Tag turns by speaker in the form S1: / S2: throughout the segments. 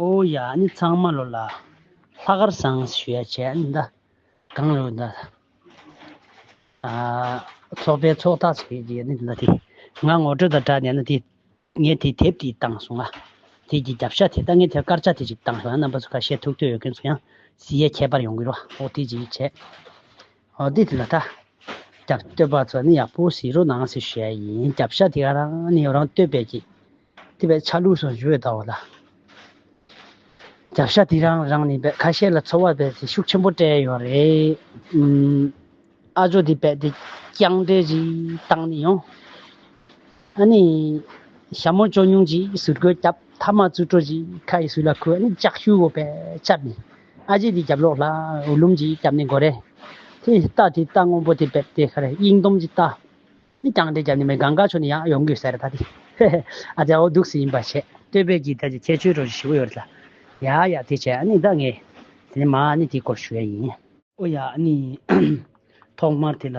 S1: ཨོ་ཡ་ནི་ཚང་མ་ལོ་ལ་ལྷ་དཀར་བཟང་ཞེས་བྱས་འདི་གང་ལོ་འདི་ཚོགས་པའི་ཚོགས་ཐག་ཆད་ཀྱི་ཡོད་ནི་འདི་དེ་ང་ངོ་སྤྲོད་དང་སྦྲགས་ནས་ནི་ངས་དེ་དེབ་དེ་བཏང་སོང་ང་དེ་ཀྱི་རྒྱབ་ཤ་དེ་ད་ངས་དེར་དཀར་ཆག་དེ་ཅིག་བཏང་སོང་ཡང་རྣམ་པ་ཚོ་ཁ་ཤས་ཐུག་འདོད་ཡོད་མཁན་ཚོ་ཡང་གསི་ཡས་ཁྱད་པར་ཡོང་གི་རོ་ཨོ་དེ་ཅིག་བྱས་འདི་ལ་ད་རྒྱབ་བསྟོད་པ་ཚོ་ནི་ཡག་པོ་བྱེད་རོགས་གནང་ཞེས་ཞུ་ཡ་ཡིན་རྒྱབ་ཤ་དེ་རང་ནས་རང་བསྟོད་པས་ཀྱི་དེ་བས་ཆ་ལུགས་སུ་བཞུགས་ཡོད་ད་བ་ལ་རྒྱབ་ཤ་དེ་རང་རང་ནས་བས་ཁ་ཤས་ལ་ཚོར་བ་བས་ཚེ་ཤུགས་ཆེན་པོ་སྤྲད་ཡོད་རེད་ཨ་ཇོ་དེ་བས་དེ་རྐྱང་འདྲེ་ཞིག་བཏང་ནས་ཡོང་ཨ་ནི་ཞྭ་མོ་ཅོ་ཉུང་ཅིག་ཟུར་རྒོད་རྒྱབ་མཐའ་མ་རྩུ་སྤྲོ་ཞིག་ཁ་ཡི་ཟུར་ལ་ཁུར་ཨ་ནི་ལྕགས་ཤུ་བོ་བས་ཆབ་ནས་ཨ་རྗེ་དེའི་རྒྱབ་ལོགས་ལ་འོད་ལུམ་གྱིས་བརྒྱབ་ནས་མགོ་རེ། དེ་རྟ་དེའི་རྟ་སྔོན་པོ་དེ་བེད་དེ་ཁ་རེ་དབྱིངས་སྡོམ་གྱི་རྟ། མི་རྐྱང་དེ་བརྒྱབ་ནས་མི་གངྒཱ་ཆུ་ནས་ཡང་ཡོང་དགོས་ཟེར་ད་དེ། ཧེ་ཧེ། ཨ་རྗེ་འོ་སྡུག་སེ་ཡིན་པ་བྱས། སྟོད་བེད་ཀྱི་རྟ་གྱི་ཁྱད་ཆོས་རོ་གཅིག་ཞི་བོ་ཡོད་རེད་ལ། ཡ་ཡ་དེ་བྱས་ཨ་ནི་ད་ངས། དེ་ནས་མ་ཨ་ནི་དེའི་སྐོར་ཞུ་ཡ་ཡིན། ཨོ་ཡ་ཨ་ནི། ཐོག་མར་དེ་ལ།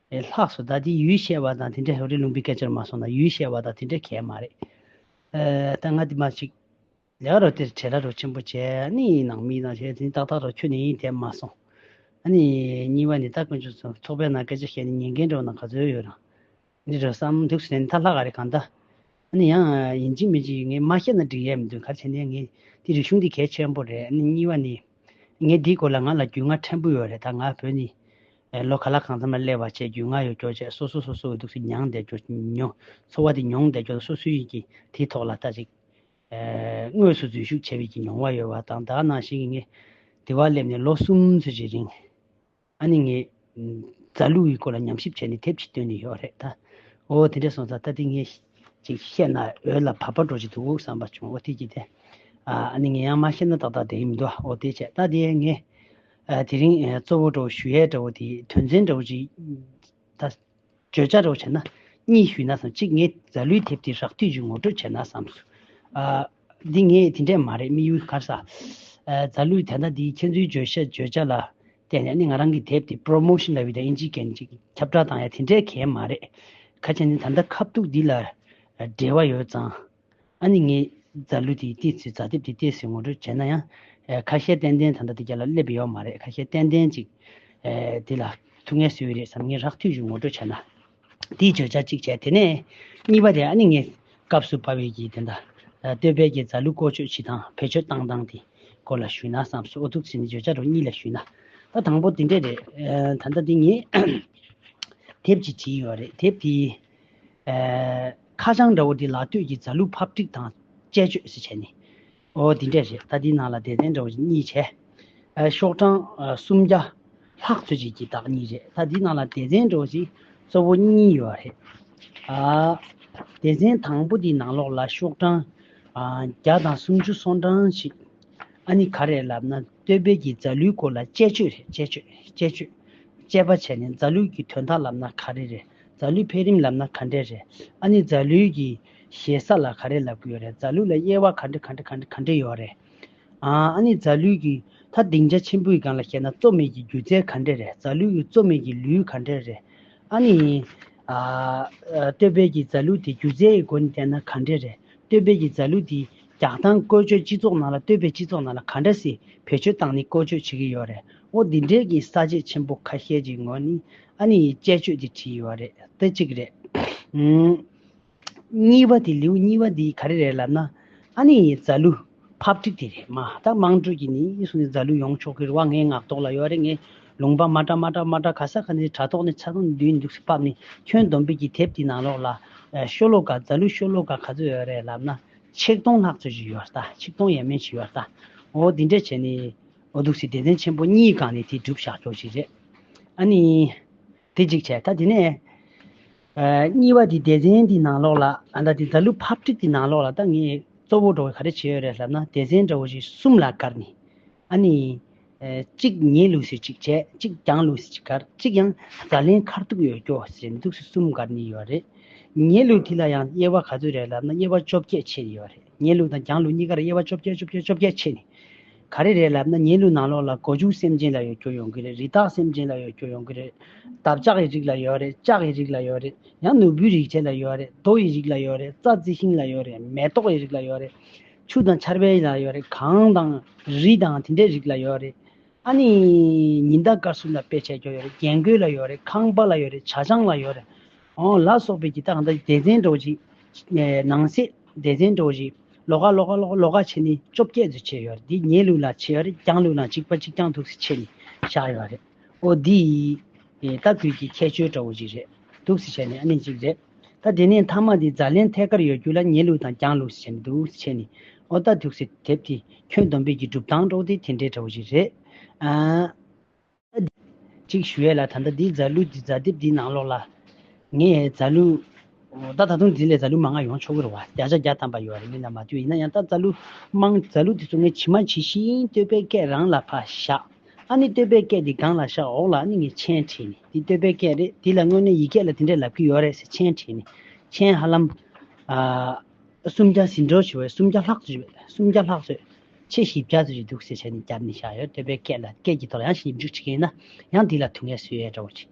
S1: ལས་ལྷགས་སོ་ད་དེ་ཡུལ་བཤད་བ་དང་དེ་འདྲའི་རི་ལུང་པའི་སྐད་ཆར་མ་སོང་ན་ཡུལ་བཤད་བ་དང་དེ་འདྲའི་གལ་མ་རེད། ད་ང་དེ་མ་ཅིག་ལས་ཀ་རོ་དེར་བྲེལ་ལ་རོ་ཆེན་པོ་བྱས་ནི་ནང་མི་ནང་བྱས་ནི་ཏག་ཏག་རོ་ཁྱོད་ནི་ཡིན་དེ་མ་སོང། ནི་གཉིས་བ་ནི་ད་དཀོན་མཆོག་ཚོ་ཚོགས་པའི་ནང་སྐད་ཆ་བཤད་ནི་ཉན་མཁན་འགྲོ་ན་ག་ཚོད་ཡོད་རང་རེད་རོ་བསམ་འདུག་ཟེར་ནི་ད་ལྷག་ག་རེ་གང་ད། ཨ་ནི་ཡང་ཡིན་གཅིག་མིན་གཅིག་ངས་མ་བཤད་ན་འགྲིག་ཡས་མི་འདུག་གལ་ཆེ་ནི་ངས་འདི་རིག་གཞུང་འདི་གལ་ཆེན་པོ་རེད་ཨ་ནི་གཉིས་བ་ནི། ངས་འདིའི་སྐོར་ལ་ང་ལ་རྒྱུས་མངའ་ཕྲན་བུ་ཡོད་རེད་ད་ང་བོད་ནི། ལོ་ག་ལ་གང་འཚམ་ལ་སླེབས་བ་བཅས་རྒྱུས་མངའ་ཡོད་སྐྱོར་བཅས་སོ་སོ་སོ་སོའི་འདུག་ཚུལ་མྱངས་བསྡད་སྐྱོར་མྱོང། འཚོ་བ་དེ་མྱོང་བསྡད་སྐྱོར་ན་སོ་སོའི་ཡིད་ཀྱིས་དེའི་ཐོག་ལ་ལྟ་ཅིག། དངོས་སུ་འཛུལ་ཞུགས་བྱས་པའི་ཀྱི་མྱོང་བ་ཡོད་བ་དང་དག་ནང་བཞིན་གྱི་ངས་དེ་བ་སླེབས་ནས་ལོ་གསུམ་ཚུན་ཅི་རིང། ཨ་ནི་ངས། རྫ་ལུག་གི་སྐོར་ལ་ཉམས་ཞིབ་བྱས་ནས་དེབ་ཅིག་བཏོན་ནི་ཡོད་རེད་ད། འོ་དེ་འདྲས་སོང་ཙང་ད་དེ་ངས་ཅིག་བཤད་ན་འོས་ལ་བབ་པ་འགྲོ་ཅིག་འདུག་བསམ་པ་བྱུང་འོ་དེ་ཅི་སྟེ། ཨ་ཨ་ནི་ངས་ཡང་མ་བཤད་ན་ཏག་ཏག་བསྡད་ཡི་མི་འདུག་འོ་དེ་བྱས་ད་དེ་ངས། དེ་རིང་གཙོ་བོ་འདྲ་བོ་ཞུ་ཡས་འདྲ་བོ་དེའི་དོན་ཚན་འདྲ་བོ་ཅིག་ད། བརྗོད་བྱ་རོགས་བྱས་ན། གཉིས་ཞུས་ན་བསམ་གཅིག་ངས་རྫ་ལུའི་དེབ་དེ་རག་དུས་ཀྱི་ངོ་སྤྲོད་བྱས་ན་བསམ། འདི་ངས་དེ་འདྲས་མ་རེད་དམིགས་ཡུལ་གར་ས། རྫ་ལུའི་དེ་ཟླ་འདིའི་ཁྱེད་ཚོའི་བརྗོད་བྱ་བརྗོད་བྱ་ལ་བལྟས་ནས་ནི་ང་རང་གི་དེབ་དེ Promotion ལ་བི་དང་ཨིན་ཇིའི་གན་ཅིག་ཁྱབ་བསྒྲགས་བཏང་ཡ་དེ་འདྲས་གལ་མ་རེད། གལ་ཆེ་ནི་ད་ལྟ་ཁ་བཏུགས་འདི་ལ་འབྲེལ་བ་ཡོད་ཙང། ཨ་ནི་ངས་རྫ་ལུད་དེ་བལྟས་ཚེ་རྫ་དེབ་དེ་བལྟས་ཟེར་ངོ་སྤྲོད་བྱས་ན་ཡང། ཁ་ཤས་ཏན་ཏན་ད་ལྟ་དེ་རྒྱ་ལ་སླེབས་པ་ཡོད་མ་རེད་ཁ་ཤས་ཏན་ཏན་ཅིག་དེ་ལ་ཐུག་ངལ་བཟོས་རེད་བསམ་ངས་རགས་ཐུག་ཞུ་ངོ་སྤྲོད་བྱས་ན། དེས་བརྗོད་བྱ་གཅིག་བྱས་དེ་ནས་གཉིས་པ་དེ་ཨ་ནི་ངས་སྐབས་སུ་བབས་ཡོད་ཀྱི་དེ་ད་སྟོད་བལ་གྱི་རྫ་ལུད་བཀོལ་སྤྱོད་བྱེད་སྟངས་བེད་སྤྱོད་བཏང་སྟངས་དེ་སྐོར་ལ་ཞུས་ན་བསམ་སོང་ཨོ་ཐུག་ཚེ་ནི་བརྗོད་བྱ་རོ་གཉིས་ལས་ཞུས་ན་ད་དང་པོ་དེ་འདྲས་རེད། ད་ལྟ་དེ་ངས་དེབ་ཅིག་བྲིས་ཡོད་རེད་དེབ་དེའི། ཁ་བྱང་འདྲ་བོ་འདི་ལག་ལྟོས་ཀྱིས་རྫ་ལུག་ཕབ་སྒྲིག་དང་དཔྱད་བཅོས་ཟེར་བྱས་ནས། ཨོ་འདི་འདྲས་རེད་ད་འདིའི་ནང་ལ་དད་ལྡན་འདྲ་བོ་ཞིག་གཉིས་བྱས། ཤོག་གྲངས་སུམ་བརྒྱ་ལྷག་འཚོལ་བྱེད་ཀྱི་བདག་གཉིས་རེད་ད་འདིའི་ནང་ལ་དད་ལྡན་འདྲ་བོ་ཞིག་གཙོ་བོ་གཉིས་ཡོད་རེད། སྡེ་ཚན་དང་པོ་འདིའི་ནང་ལོགས་ལ་ཤོག་གྲངས་བརྒྱ་དང་སུམ་ཅུ་སོ་གྲངས་ཤིག་ཨ་ནི་ག་རེད་ལབ་ན་ལྟོས་དཔལ་གྱི་རྫ་ལུའི་སྐོར་ལ་དཔྱད་བཅོས་རེད་དཔྱད་བཅོས་དཔྱད་བཅོས་དཔྱད་པ་བྱས་ནས་རྫ་ལུག་གི་དོན་དག་ལབ་ན་ག་རེ་རེད་རྫ་ལུད་འཕེལ་རིམ་ལབ་ན་ག་འདྲས་རེད། ཨ་ནི་རྫ་ལུད་ཀྱི་ཞེ་ས་ལ་ག་རེ་ལབ་གི་ཡོད་རེད་རྫ་ལུད་ལ་དབྱེ་བ་ག་འདྲ་ག་འདྲ་ག་འདྲ་ག་འདྲ་ཡོད་རེད། ཨང། ཨ་ནི་རྫ་ལུད་ཀྱི་ད་སྡིངས་ཆ་ཆེན་པོའི་སྒང་ལ་བཤད་ན་གཙོ་མེད་ཀྱི་སྒྱུ་རྩལ་ག་འདྲས་རེད་རྫ་ལུད་ཀྱི་གཙོ་མེད་ཀྱི་ལུད་ག་འདྲས་རེད། ཨ་ནི། ཨ། སྟོད་སྦེལ་གྱི་རྫ་ལུད་དེ་སྒྱུ་རྩལ་ཡི་སྒོ་ནས་བལྟས་ན་ག་འདྲས་རེད་སྟོད་སྦེལ་གྱི་རྫ་ལུད་དེ། རྒྱག་སྟངས་བཀོལ་སྤྱོད་སྤྱི་ཚོགས་ནང་ལ་ལྟོས་པའི་སྤྱི་ཚོགས་ནང་ལ་ག་འདྲ་སྲིད་བེད་སྤྱོད་སྟངས་ནི་བཀོལ་སྤྱོད་བྱེད་ཀྱི་ཡོད་རེད་ཨོ་འདི་འདྲའི་གི་ས་བཅད་ཆེན་པོ་ཁ་ཤས་ཀྱི་ངོས་ནི་ཨ་ནི་ཡི་དཔྱད་བརྗོད་དེ་བྲིས་ཡོད་རེད་དེ་གཅིག་རེད། གཉིས་པ་དེ་ལེའུ་གཉིས་པ་འདི་ག་རེ་རེད་ལབ་ན་ཨ་ནི་ཡི་རྫ་ལུ Public དེ་རེད་མ་ད་དམངས་ཁྲོད་ཀྱི་ནི་ཡིད་སུ་ནི་རྫ་ལུ་ཡོང་ཆོག་གི་རུ་བ་ངའི་ངག་ཐོག་ལ་ཡོད་རེད་ངའི་ལུང་པ་མ་ཏྲ་མ་ཏྲ་མ་ཏྲ་ག་ས་ག་ནི་དྲ་ཐོག་ནི་ཚ་གུ་ནི་འདུས་ནི་འདུག་སི་ཕབ་ནི་ཁྱོད་སྡོམ་པི་གི་དེབ་དེ་ནང་ལོག་ལ་ཤོ་ལོ་ག་རྫ་ལུ་ཤོ་ལོ་ག་ག་ཚོད་ཡོད་རེད་ལབ་ན། ཆིག་སྟོང་ལྷག་ཚོད་ཅིག་ཡོད་ལྟ་ཆིག་སྟོང་ཡན་མན་ཞིག་ཡོད་ལྟ་འོ་དེ་འདྲ་བྱས་ནས་འོ་འདུག་སེ་དད་ལྡན་ཆེན་པོ་གཉིས་གང་ནས་དེ་བསྒྲུབ་བཞག་ཆོག་ཅིག་རེད་ཨ་ནི། དེ་གཅིག་བྱས་ད་དེ་ནས། གཉིས་པ་དེ་དད་ལྡན་དེ་ནང་ལོགས་ལ་ཨ་ད་དེ་ད་ལུ་ཕབ་ཁྲིད་དེ་ནང་ལོགས་ལ་ད་ངས་གཙོ་བོ་འགྲོ་བའི་ག་རེ་བྱས་ཡོད་རེད་ལབ་ན་དད་ལྡན་འདྲ་བོ་ཞིག་གསུམ་ལ་བཀར་ནས། ཨ་ནི། གཅིག་ཉལ་ལུགས་སུ་གཅིག་བྱས། གཅིག་བརྒྱངས་ལུགས་སུ་གཅིག་གར། གཅིག་ཡང་ཟ་ལེན་ཁར་ཐུག་ཡོད་སྐྱོ་ཟེར་འདུག་སུ་གསུམ་གར་ནི་ཡོད་རེད། ཉལ་ལུགས་དེ་ལ་ཡང་དབྱེ་བ་ག་ཚོད་རེད་ལབ་ན་དབྱེ་བ་བཅོ་བརྒྱད་ཕྱེད་ཡོད་རེད་ཉལ་ལུགས་དང་བརྒྱངས་ལུགས་གཉིས་ཀར་དབྱེ་བ་བཅོ་བརྒྱད་བཅོ་བརྒྱད་བཅོ་བརྒྱད་ཕྱེད་ནི། ག་རེ་རེད་ལབ་ན་ཉལ་ལུགས་ནང་ལོགས་ལ་སྒོ་ཕྱུགས་སེམས་ཅན་ལ་ཡོད་སྐྱོ་ཡོང་གི་རེད་རི་དྭགས་སེམས་ཅན་ལ་ཡོད་སྐྱོ་ཡོང་གི་རེད། འདབ་ལྕག་ཡི་རིགས་ལ་ཡོད་རེད་ལྕགས་ཡི་རིགས་ལ་ཡོད་རེད་ཡང་ནོར་བུའི་རིགས་བྱེད་ལ་ཡོད་རེད་རྡོ་ཡི་རིགས་ལ་ཡོད་རེད་རྩྭ་རྩི་ཤིང་ལ་ཡོད་རེད་མེ་ཏོག་ཡི་རིགས་ལ་ཡོད་རེད། ཆུ་དང་ཆར་པའི་ལ་ཡོད་རེད་གངས་དང་རི་དང་དེ་འདྲའི་རིགས་ལ་ཡོད་རེད། ཨ་ནི་ཉི་ཟླ་སྐར་གསུམ་ལ་དཔེ་བྱད་ཀྱོག་ཡོད་རེད་རྒྱན་གོས་ལ་ཡོད་རེད་ཁང་པ་ལ་ཡོད་རེད་བྱ་ཆང་ལ་ཡོད་རེད། ཨོང་ལ་སོགས་པའི་ཀྱི་ཏག་ཏག་སྡེ་ཚན་སྒྲོག་ཅིག། ནང་གསེས་སྡེ་ཚན་སྒྲོག་ཅིག། ལོ་ཀ་ལོ་ཀ་ལོ་ཀ་ལོ་ཀ་ཕྱེད་ནི་བཅོ་བརྒྱད་ཚོད་ཕྱེད་ཡོད་རེད་དེ་ཉལ་ལུགས་ལ་ཕྱེད་ཡོད་རེད་བརྐྱང་ལུགས་ན་གཅིག་པ་གཅིག་བརྐྱང་ཐུགས་སུ་ཕྱེད་ནི་བཞག་ཡོད་རེད། ཨོ་འདི་ཡིས། ད་ཁུལ་གྱི་ཁྱད་ཆོས་འདྲ་བོ་ཅིག་རེད་འདུག་ཟེར་བྱས་ནས་ཨ་ནི་ཅིག་རེད། ད་དེ་ནས་མཐའ་མ་དེ་ཛཱ་ལན་ཐད་ཀར་ཡོད་རྒྱུ་ལ་ཉལ་ལུགས་དང་བརྒྱངས་ལུགས་ཟེར་བྱས་ནས་འདུག་ཟེར་བྱས་ནས། ཨོ་ད་དུག་སེར་དེབ་དེ་ཁྱོད་སྡོམ་པས་ཀྱི་སྒྲུབ་སྟངས་དཀྲོགས་དེ་དེ་འདྲའི་འདྲ་བོ་ཅིག་རེད། ད་འདི། ཅིག་ཞུ་ཡས་ལ་ད་ད་འདི་ཛཱ་ལུས་འདི་ཛཱ་དེབ་འདིའི་ནང་ལོགས་ལ། ངས་ཛཱ་ལུས། ད་ད་དུང་དེ་ལས་རྫ་ལུ་མ་ལྔ་ཡོང་ཆོག་གི་རེད་བ་བརྒྱ་ཆ་བརྒྱ་ཐམ་པ་ཡོད་རེད་མི་རྣམས་མ་ཐུག་ཡིན་ན་ཡང་ད་རྫ་ལུ། དམངས་རྫ་ལུ་དེ་ཚོ་ངས་ཇི་མ་ཇི་བཞིན་བསྟོད་པའི་སྐད་རང་ལ་ཕ་བཞག། ཨ་ནི་བསྟོད་པའི་སྐད་འདི་སྒང་ལ་བཞག་འོག་ལ་ཨ་ནི་ངས་མཆན་བྲིས་ནས་འདི་བསྟོད་པའི་སྐད་རེད་འདི་ལ་དངོས་གནས་ཡིག་སྐད་ལ་འདི་འདྲས་ལབ་ཀྱི་ཡོད་རེད་ཟེར་མཆན་བྲིས་ནས་མཆན་ཧ་ལམ། སུམ་བརྒྱ་ཟིན་འགྲོ་བྱས་བས་སུམ་བརྒྱ་ལྷག་ཚོད་སུམ་བརྒྱ་ལྷག་ཚོད། ཕྱེད་བཞི་བརྒྱ་ཚོད་ཅིག་འདུག་ཟེར་བྱས་ནས་བརྒྱབ་ནས་བཞག་ཡོད་བསྟོད་པའི་སྐད་ལ་སྐད་ཀྱི་ཐོག་ལ་ཡང་ཞིབ་འཇུག་བྱེད་མཁན་ཡིན་ན་ཡང་འདི་ལ་དུས་ངལ་གསོས་ཡས་འདྲ་བོ་བྱེད།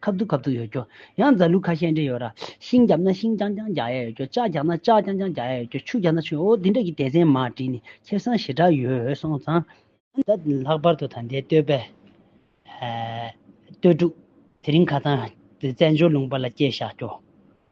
S1: ཁབ་ཏུ་ཁབ་ཏུ་ཡོད་རྒྱུ། ཡང་རྫ་ལུག་ཁ་ཤས་འདྲེས་ཡོད། ཤིང་རྒྱབ་ན་ཤིང་རྐྱང་རྐྱང་རྒྱག་ཡས་ཡོད་རྒྱུ། ལྕགས་རྒྱག་ན་ལྕགས་རྐྱང་རྐྱང་རྒྱག་ཡས་ཡོད་རྒྱུ། ཆུ་རྒྱག་ན་ཆུ། འོ་འདི་འདྲ་གི་སྡེ་ཚན་མར་བྲིས་ནས་ཁྱེར་སོང་ཞེ་དྲག་ཡོད་སོང་ཙང། ད་ལྷག་པར་དུ་ད་ལྟའི་སྟོད་པའི། སྟོད་ཕྲུག། དེ་རིང་ཁ་ཚང། བཙན་བྱོལ་ལུང་པ་ལ་སྐྱེལ་བཞག་རྒྱུ།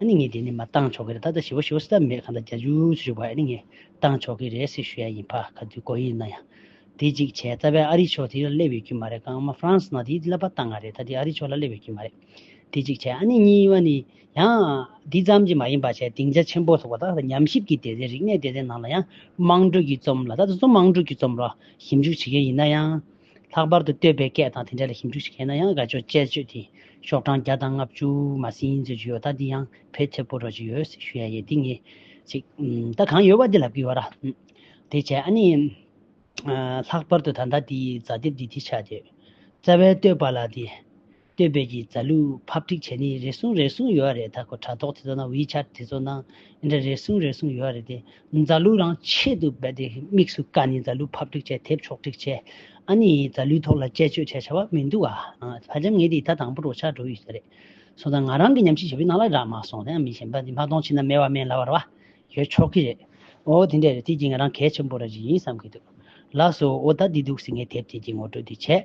S1: ཨ་ནི་ངས་དེ་ནི་མ་བཏང་ཆོག་གི་རེད་ད་ལྟ་ཞི་བ་ཞུ་བ་སྲིད་ཐབས་མེད་གང་ལྟར་རྒྱ་ཇུས་སུ་ཞུགས་པ་ཨ་ནི་ངས་བཏང་ཆོག་གི་རེད་ཟེར་ཞུ་ཡ་ཡིན་ཕ་ག་དུས་གོ་ཡིན་ན་ཡང་དེ་ཅིག་བྱས་རྩ་བའི་ཨ་རི་ཕྱོགས་དེ་ལ་སླེབས་ཡོད་ཀྱི་མ་རེད་ཀང་མ་ཧྥ་རན་སི་ནང་དེའི་སླེབས་པ་ལྟ་ང་རེད་ད་དེ་ཨ་རི་ཕྱོགས་ལ་སླེབས་ཡོད་ཀྱི་མ་རེད་དེ་ཅིག་བྱས་ཨ་ནི་གཉིས་པ་ནི་ཡང་དེ་ཙམ་གྱི་མ་ཡིན་པ་བྱས་སྡིངས་ཆ་ཆེན་པོ་ཐོག་ད་ལྟ་ཉམས་ཞིབ་ཀྱི་སྡེ་ཚན་རིག་གནས་སྡེ་ཚན་ནང་ལ་ཡང་དམངས་ཁྲོད་ཀྱི་རྩོམ་ལ་ད་དུ་རྩོམ་དམངས་ཁྲོད་ཀྱི་རྩོམ་ར་ཞིབ་འཇུག་བྱེད་མཁན་ཡིན་ན་ཡང། ལྷག་པར་དུ་བསྟོད་པའི་སྐད་དང་དེ་འདྲ་ལ་ཞིབ་འཇུག་ཞིག་བྱས་ན་ཡང་དགའ་ཕྱོགས་དཔྱད་བརྗོད་དེ་ཤོག་གྲངས་བརྒྱ་དང་ལྔ་བཅུ་མ་ཟིན་ཡིན་ཚོད་ཅིག་ཡོད་ད་འདི་ཡང་བེད་ཐེབས་པོ་རོགས་ཅིག་ཡོད་སེ་ཞུ་ཡ་ཡེ་འདི་ངས་ཅིག་ད་གང་ཡོད་བ་འདི་ལབ་གི་ཡོད་ར་དེ་བྱས་ཨ་ནི། ལྷག་པར་དུ་ད་ལྟ་འདི་ཛ་དེབ་འདི་དེ་ཆགས་འདོད་རྩ་བའི་བསྟོད་པ་ལ་དེ་སྟོན་པས་ཀྱི་རྫ་ལུག་ཕབ་སྒྲིག་བྱས་ནི་རེ་ཟུང་རེ་ཟུང་ཡོད་རེད་ད་ཁོ་དྲ་ཐོག་དེ་ཚོ་ནང་ཝི་ཆར་དེ་ཚོ་ནང་འདི་འདྲ་རེ་ཟུང་རེ་ཟུང་ཡོད་རེད་དེ་རྫ་ལུག་རང་ཆེད་དུ་རྦད་དེ་དམིགས་སུ་བཀར་ནི་རྫ་ལུག་ཕབ་སྒྲིག་བྱས་དེབ་ཕྱོགས་སྒྲིག་བྱས་ཨ་ནི་རྫ་ལུག་ཐོག་ལ་དཔྱད་བརྗོད་བྱས་བྱ་བ་མི་འདུག་ཨ་བྷ་ལྗམ་ངས་དེ་ད་དང་པོ་རོ་ཆག་འགྲོ་ཡི་ཟེ་རེད་སོང་ད་ང་རང་གི་ཉམས་ཞིབ་བྱས་པའི་ནང་ལ་རག་མ་སོང་དེའང་མི་ཤེས་རྦད་དེ་མ་གཏོང་ཕྱིན་ན་སྨེ་བ་སྨན་ལ་བར་བ་ཡོད་ཆོག་གི་རེད་ཨོ་དེ་འདྲས་རེད་དེ་ཀྱི་ང་རང་གལ་ཆེན་པོ་ར་ཞིག་ཡིན་བསམ་གི་འདུག་ལགས་སོ་ཨོ་ད་འདི་འདུག་ཟེ་ངས་དེབ་དེ་ཀྱི་ངོ་སྤྲོད་དེ་བྱས།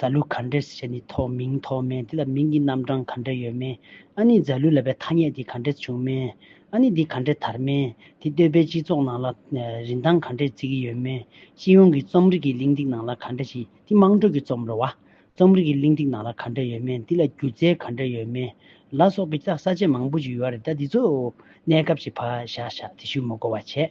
S1: རྫ་ལུ་ག་འདྲའི་ཞེས་ནི་ཐོགས་མིང་ཐོགས་མེད་དེ་ལ་མིང་གི་རྣམ་གྲངས་ག་འདྲ་ཡོད་མིན། ཨ་ནི་རྫ་ལུ་ལ་པའི་ཐ་སྙད་དེ་ག་འདྲས་བྱུང་མིན། ཨ་ནི་འདི་ག་འདྲས་དར་མིན། དེ་སྟོད་པའི་སྤྱི་ཚོགས་ནང་ལ་རིན་ཐང་ག་འདྲས་བརྩི་གི་ཡོད་མིན། སྤྱི་ཡོངས་ཀྱི་རྩོམ་རིག་གི་གླེང་སྟེགས་ནང་ལ་ག་འདྲ་ཞིག་དེ་དམངས་ཁྲོད་ཀྱི་རྩོམ་རོལ་བ། རྩོམ་རིག་གི་གླེང་སྟེགས་ནང་ལ་ག་འདྲ་ཡོད་མིན་དེ་ལ་སྒྱུ་རྩལ་ག་འདྲ་ཡོད་མིན། ལ་སོགས་ཀྱི་ས་བཅད་མང་པོ་ཞིག་ཡོད་རེད་ད་འདི་ཚོ་གནས་སྐབས་ཀྱི་བག་ཞག་ཞག་དེ་ཞུ་མི་གོ་བ་བྱས།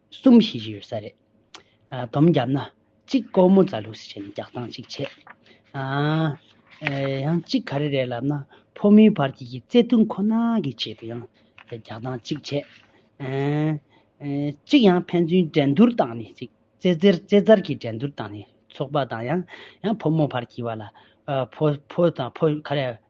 S1: གསུམ་བྱེད་ཀྱི་ཡོད་ས་རེད། དོམ་བརྒྱབ་ན་གཅིག་སྐོར་མོ་རྫ་ལུགས་སུ་བྱས་ནས་རྒྱག་སྟངས་གཅིག་བྱེད། ཡང་གཅིག་ག་རེ་རེད་ལབ་ན་ཕོ་མོའི་བར་གྱི་གྱི་བརྩེ་དུང་ཁོ་ན་གི་ཆེད་དུ་ཡང་རྒྱག་སྟངས་གཅིག་བྱེད། གཅིག་ཡང་ཕན་ཚུན་འགྲན་བསྡུར་བཏང་ནས་ཅིག་རྩེ་རྩེར་རྩེ་རྩར་གྱི་འགྲན་བསྡུར་བཏང་ནས་ཚོགས་པ་དང་ཡང་ཕོ་མོ་བར་གྱི་བར་ལ་ཕོ་དང་ཕོ་ག་རེ་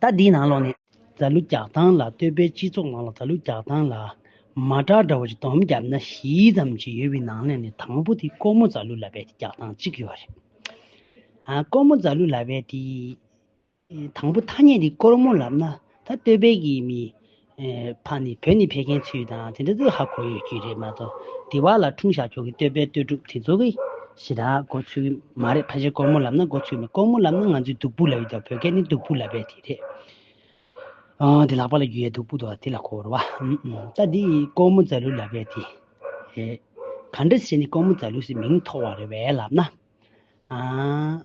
S1: ཟླ་འདིའི་ནང་ལོགས་ནས། རྫ་ལུ་རྒྱག་སྟངས་ལ་ལྟོས་པའི་སྤྱི་ཚོགས་ནང་ལ་རྫ་ལུ་རྒྱག་སྟངས་ལ། མ་དྲག་འདྲ་བོ་ཅིག་དོམ་བརྒྱབ་ན་བཞི་ཙམ་གྱི་ཡོད་པའི་ནང་ལས་ནས་དང་པོ་དེ་ལྐོག་མོ་རྫ་ལུ་ལ་བས་ཏེ་རྒྱག་སྟངས་གཅིག་ཡོད་རེད། ལྐོག་མོ་རྫ་ལུ་ལ་བས་ཏེ། དང་པོ་ཐ་སྙད་དེ་ལྐོག་མོ་ལབ་ན་ད་ལྟོས་པའི་གི་མི། ཕ་ནི་བོད་ནས་ཕེབས་མཁན་ཚུལ་དང་དེ་འདྲ་དུ་ཧ་གོ་ཡོད་རྒྱུ་རེད་མ་གཏོགས་དེ་བ་ལ་འཁྲུངས་ཞག་ཁྱོ་གའི་སྟོད་པའི་སྟོད་དྲུག་དེ་ཚོ་གི་གཞི་དག་གོ་ཚུལ་གི་མ་རེད་ཕ་ཤི་སྐོར་མོ་ལབ་ན་གོ་ཚུལ་མེད་སྐོར་མོ་ལབ་ན་ང་ཚོའི་བདུག་སྤོས་ལབ་ཡོད་དོ་བོད་སྐད་ནི་བདུག་སྤོས་ལབ་པའི་དེ་རེད་དེ་ལག་པ་ལ་རྒྱུ་ཡའི་བདུག་སྤོས་དོ་དེ་ལ་གོ་རོ་བ་ད་འདི་སྐོར་མོ་རྫ་ལུ་ལབ་པའི་དེ་རེད་ག་འདྲ་བྱས་ནས་སྐོར་མོ་རྫ་ལུ་སི་མིང་ཐོགས་བ་རེད་བས་ལབ་ན་ཨ།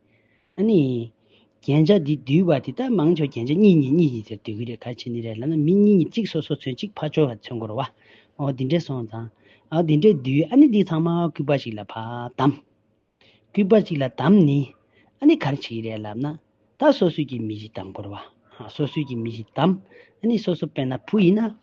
S1: ཨ་ནི། རྒྱན་ཆ་འདི་འདུལ་བ་འདི་ལྟར་མང་ཆོག་རྒྱན་ཆ་གཉིས་གཉིས་གཉིས་གཉིས་ཟེར་འདུལ་གི་རེད་ག་ཕྱི་ནི་རེད་ལབ་ན་མི་གཉིས་གཉིས་གཅིག་སོ་སོ་ཚུན་གཅིག་ཕ་ཆོལ་བ་ཚུན་འགོར་བ། ཨོ་འདི་འདྲས་སོང་ཙང། ཨོ་འདི་འདྲས་འདུལ་ཨ་ནི་འདི་ཚང་མ་སྐུད་པ་ཞིག་ལ་ཕ་བདམ། སྐུད་པ་གཅིག་ལ་བདམ་ནི། ཨ་ནི་གར་བྱེད་ཀྱི་རེད་ལབ་ན། ད་སོ་སོས་ཀྱི་མི་ཞིག་བདམ་འགོར་བ། ཧ་སོ་སོས་ཀྱི་མི་ཞིག་བདམ། ཨ་ནི་སོ་སོ་དཔེར་ན་བུ་ཡིན་ན།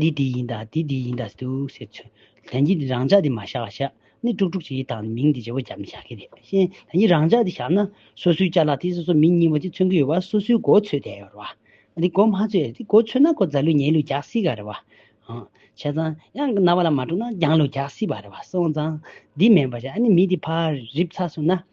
S1: འདི་འདི་ཡིན་དང་འདི་འདི་ཡིན་དང་འདུག་ཟེར་ཚུལ། ལན་གཅིག་འདི་རང་ཅག་འདི་མ་བཞག་བཞག་ནི་དཀྲུག་དཀྲུག་བྱེད་ཀྱི་དང་མིང་འདི་བྱེད་པོ་བྱ་མི་བྱ་གི་རེད་བཞིན་ད་ནི་རང་ཅག་འདི་བཞག་ན་སོ་སོའི་བཅའ་ལག་དེ་སོ་སོ་མི་གཉིས་པོ་དེ་མཚོན་གི་ཡོད་པ་སོ་སོའི་མགོ་ཚོས་བསྡད་ཡོད་རེད་བ། འདི་མགོ་མ་ཚོས་འདི་མགོ་ཚོས་ན་ཁོ་རྫ་ལུས་ཉལ་ལུས་རྒྱག་སྲིད་ག་རེད་བ། བྱས་ཙང་གཡང་གི་རྣ་བ་ལ་མ་དཀྲུག་ན་རྒྱང་ལུས་རྒྱག་སྲིད་པ་རེད་བ་སོང་ཙང་འདི་མེད་པ་བྱས་ཨ་ནི་མི་འདི་ཕར་རིབ་ཚ་སོང་ན་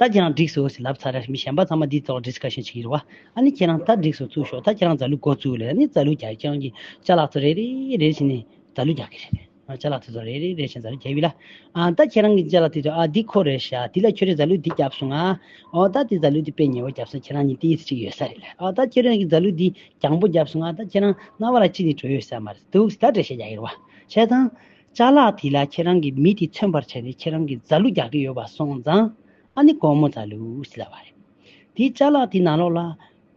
S1: ད་ཁྱེད་རང་འགྲིགས་སོ་ཞེས་ལབ་ཚར་རེར་མི་གཞན་པ་ཚང་མ་འདིའི་ཐོག Discussion བྱེད་ཀྱི་རེད་བ། ཨ་ནི་ཁྱེད་རང་ད་འགྲིགས་སོ་བཙུགས་ཤོག་ད་ཁྱེད་རང་རྫ་གླུ་མགོ་བཙུགས་ལེ་ཨ་ནི་རྫ་གླུ་རྒྱག་ཀྱང་གི་ལྕགས་ལག་ཚོ་རེ་རེ་རེ་བཞིན་ནས་རྫ་གླུ་རྒྱག་གི་རེད་བས། ལྕགས་ལག་ཐི་ཚོ་རེ་རེ་རེ་བཞིན་རྫ་གླུ་རྒྱག་ཡུལ་ལ། ཨ་ད་ཁྱེད་རང་གི་ལྕགས་ལག་ཐི་ཚོ་ཨ་འདི་ཁོ་རེ་ཤ་འདི་ལ་ཁྱོད་རེ་རྫ་གླུ་འདི་རྒྱབ་སོང་ཨ། ཨོ་ད་འདི་རྫ་གླུ་འདི་དཔེ་ཉེ་བོ་རྒྱབ་སོང་ཁྱེད་རང་གཉིས་ཏིས་གཅིག་ཡོད་ས་རེད་ལེ་ཨོ་ད་ཁྱེད་རང་གི་རྫ་གླུ་འདི་གྱང་པོ་རྒྱབ་སོང་ཨ་ད་ཁྱེད་རང་རྣ་བ་ལ་གཅིག་ནི་གྲོ་ཡོད་ས་མ་རེད་འདུག་ད་འདྲེ་ཤ་རྒྱག་ཡོད་རེད་བ། བྱས་ཙང། བཅའ་ལག་དེ་ལ་ཁྱེད་རང་གིས་མི་དེ་མཚོན་པར་བྱས་ཏེ་ཁྱེད་རང་གིས་རྫ་ལུ་རྒྱག་གི་ཡོད་པ་སོང་ཙང། ཨ་ནི་ཀོའུ་མོ་རྫ་ལུ་ཟེར་ལབ་པ་རེད། དེའི་བཅའ་ལག་དེ་ནང་ལོགས་ལ།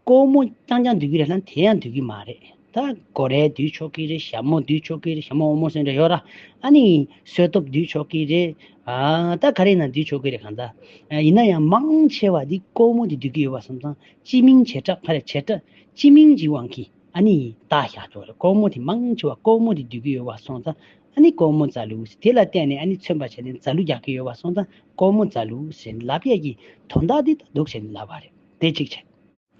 S1: ཀོའུ་མོ་རྐྱང་རྐྱང་འདུག་གི་རེད་ལ་དེ་ཡང་འདུག་གི་མ་རེད། ད་གོ་རེ་འདུས་ཆོག་གི་རེད་ཞྭ་མོ་འདུས་ཆོག་གི་རེད་ཞྭ་མོ་འོ་མོ་སོན་རེ་ཡོད་ར། ཨ་ནི་སོལ་སྟོབས་འདུས་ཆོག་གི་རེད། ཨ་ད་ག་རེ་ཡིན་ན་འདུས་ཆོག་གི་རེད་གང་ལྟ། ཡིན་ན་ཡང་མང་ཆེ་བ་དེ་ཀོའུ་མོ་དེ་འདུག་གི་ཡོད་པ་སོང་ཙང་སྤྱི་མིང་བྱེ་བྲག་ཕ་རེད་བྱེ་བྲག་སྤྱི་མིང་གི་དབང་གིས། ཨ་ནི་བདག་ཤ་ཚོགས་ལ་ཀོ་མོ་དེ་མང་ཆེ་བ་ཀོ་མོ་དེ་སྡུད་ཀྱི་ཡོད་བ་སོང་ཙང་ཨ་ནི་ཀོ་མོ་རྫ་ལུག་ཟེར་དེ་ལ་བལྟས་ནས་ཨ་ནི་མཚོན་པ་བྱས་ནས་རྫ་ལུག་རྒྱག་གི་ཡོད་བ་སོང་ཙང་ཀོ་མོ་རྫ་ལུག་ཟེར་ནས་ལབ་ཡས་ཀྱི་དོ་བདག་འདི་ལྟ་འདུག་ཟེར་ནས་ལབ་བ་རེད་དེ་གཅིག་བྱས།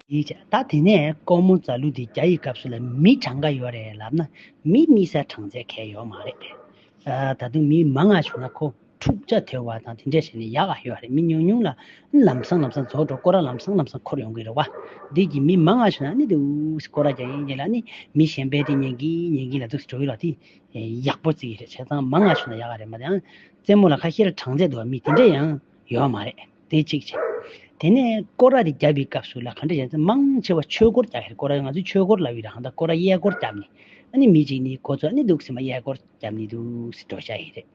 S1: གཉིས་བྱས་ད་དེ་ནས་ཀོ་མོ་རྫ་ལུག་འདི་རྒྱ་ཡི་སྐབས་སུ་ལ་མི་གྲངས་འགའ་ཡོད་རེད་ལབ་ན་མི་རྨིས་སའི་གྲངས་ཚད་གས་ཡོད་མ་རེད། ད་དུང་མི་མང་ང་བྱུང་ན་ཁོ། འཁྲུག་ཆ་དོད་བ་དང་དེ་འདྲའི་ཞིག་ནི་ཡག་ཨ་ཡོད་རེད་མི་ཉུང་ཉུང་ལ་ལམ་སང་ལམ་སང་རྫོགས་འགྲོ་སྐོར་ར་ལམ་སང་ལམ་སང་འཁོར་ཡོང་གི་རེད་བ། འདི་གི་མི་མང་ང་ཤོད་ན་ནི་དེ་འུ་སྐོར་ར་ཀྱང་ཡིན་གྱི་ལ་ནི་མི་གཞན་པའི་དེ་ཉན་གི་ཉན་གི་ལ་དུ་འགྲོ་གི་ལ་དེ་ཡག་པོ་རྩིས་ཀྱི་རེད་བྱས་ཙང་མང་ང་ཤོད་ན་ཡག་ཨ་རེད་མ་དེ་ཡང་རྩེད་མོ་ལ་ཁ་ཤེ་ར་གྲངས་ཚད་འདུག་བ་མི་དེ་འདྲ་ཡང་ཡོད་བ་མ་རེད་དེ་གཅིག་བྱས། དེ་ནས་སྐོར་ར་དེ་རྒྱབ་པའི་སྐབས་སུ་ལ་ག་འདྲ་བྱས་ཙང་མང་ཆེ་བ་ཆོས་སྐོར་རྒྱག་གི་རེད་སྐོར་ར་ང་ཚོའི་ཆོས་སྐོར་ལ་བའི་རང་ལྟ་སྐོར་ར་གཡས་སྐོར་རྒྱབ་ནི་ཨ་ནི་མི་གཅིག་ནི་གོ་ཚོད་ཨ་ནི་འདུག་སེ་མ་གཡས་སྐོར་རྒྱབ་ནི་དུ་སེ་འགྲོ་བྱ་ཡི་རེད།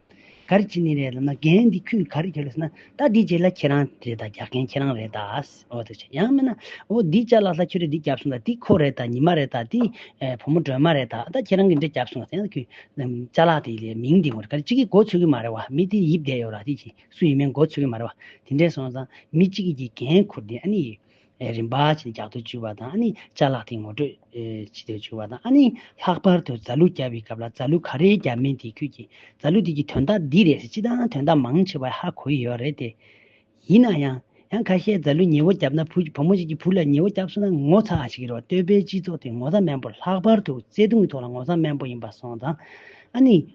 S1: གར་བྱེད་ནི་རེད་ལབ་ན་རྒན་འདི་ཁྱོད་ག་རེ་བྱེད་ལོས་ཟེར་ན་ད་འདི་བྱེད་ལ་ཁྱེད་རང་རེད་ད་རྒྱག་མཁན་ཁྱེད་རང་རེད་ད་ཨོ་ད་ཆ་ཡང་མིན་ན་ཨོ་འདི་བྱ་ལ་ད་ཁྱོད་རེད་འདི་བརྒྱབ་སོང་ད་འདི་ཁོ་རེད་ད་ཉི་མ་རེད་ད་འདི་བུ་མོ་སྒྲོལ་མ་རེད་ད་ད་ཁྱེད་རང་གིས་འདྲེ་བརྒྱབ་སོང་ཟེར་ན་ད་ཁྱོད་བྱ་ལ་དེ་མིང་འདི་ངོ་རེ་ག་རེ་གཅིག་གིས་མགོ་ཚོས་ཀྱི་མ་རེད་བ་མི་དེ་ཡིབ་བསྡད་ཡོད་ར་དེ་གྱིས་སུ་ཡིན་མིན་མགོ་ཚོས་ཀྱི་མ་རེད་བ་དེ་འདྲེ་སོང་ཙང་མི་གཅིག་གིས་རྒན་འཁོར་འདི་ཨ་ནི་རིམ་པ་བྱས་ཏེ་རྒྱག་ཏུ་བཅུག་པ་དང་ཨ་ནི་བཅའ་ལག་ཐིག་ངོ་སྤྲོད་བྱེད་དུ་བཅུག་པ་དང་ཨ་ནི་ལྷག་པར་དུ་རྫ་ལུ་བརྒྱབ་པའི་སྐབས་ལ་རྫ་ལུ་ག་རེ་བརྒྱབ་མིན་དེ་ཁྱོད་ཀྱིས་རྫ་ལུ་དེ་གྱི་དོན་དག་འདི་རེད་ཟེར་སྤྱི་དང་དོན་དག་མང་ཆེ་བ་ཧ་གོ་ཡི་ཡོད་རེད་དེ། ཡིན་ན་ཡང། ཡང་ཁ་ཤས་རྫ་ལུ་ཉེ་བོ་བརྒྱབ་ན་བུ་བུ་མོ་ཞིག་གི་བུ་ལ་ཉེ་བོ་བརྒྱབ་སོང་ན་ངོ་ཚ་ཞིག་གི་རེད་བ་སྟོད་པའི་སྤྱི་ཚོགས་དེ་ངོ་ཚ་མན་པོ་ལྷག་པར་དུ་བརྩེ་དུང་གི་ཐོག་ལ་ངོ་ཚ་མན་པོ་ཡིན་པ་སོང་དང་ཨ་ནི་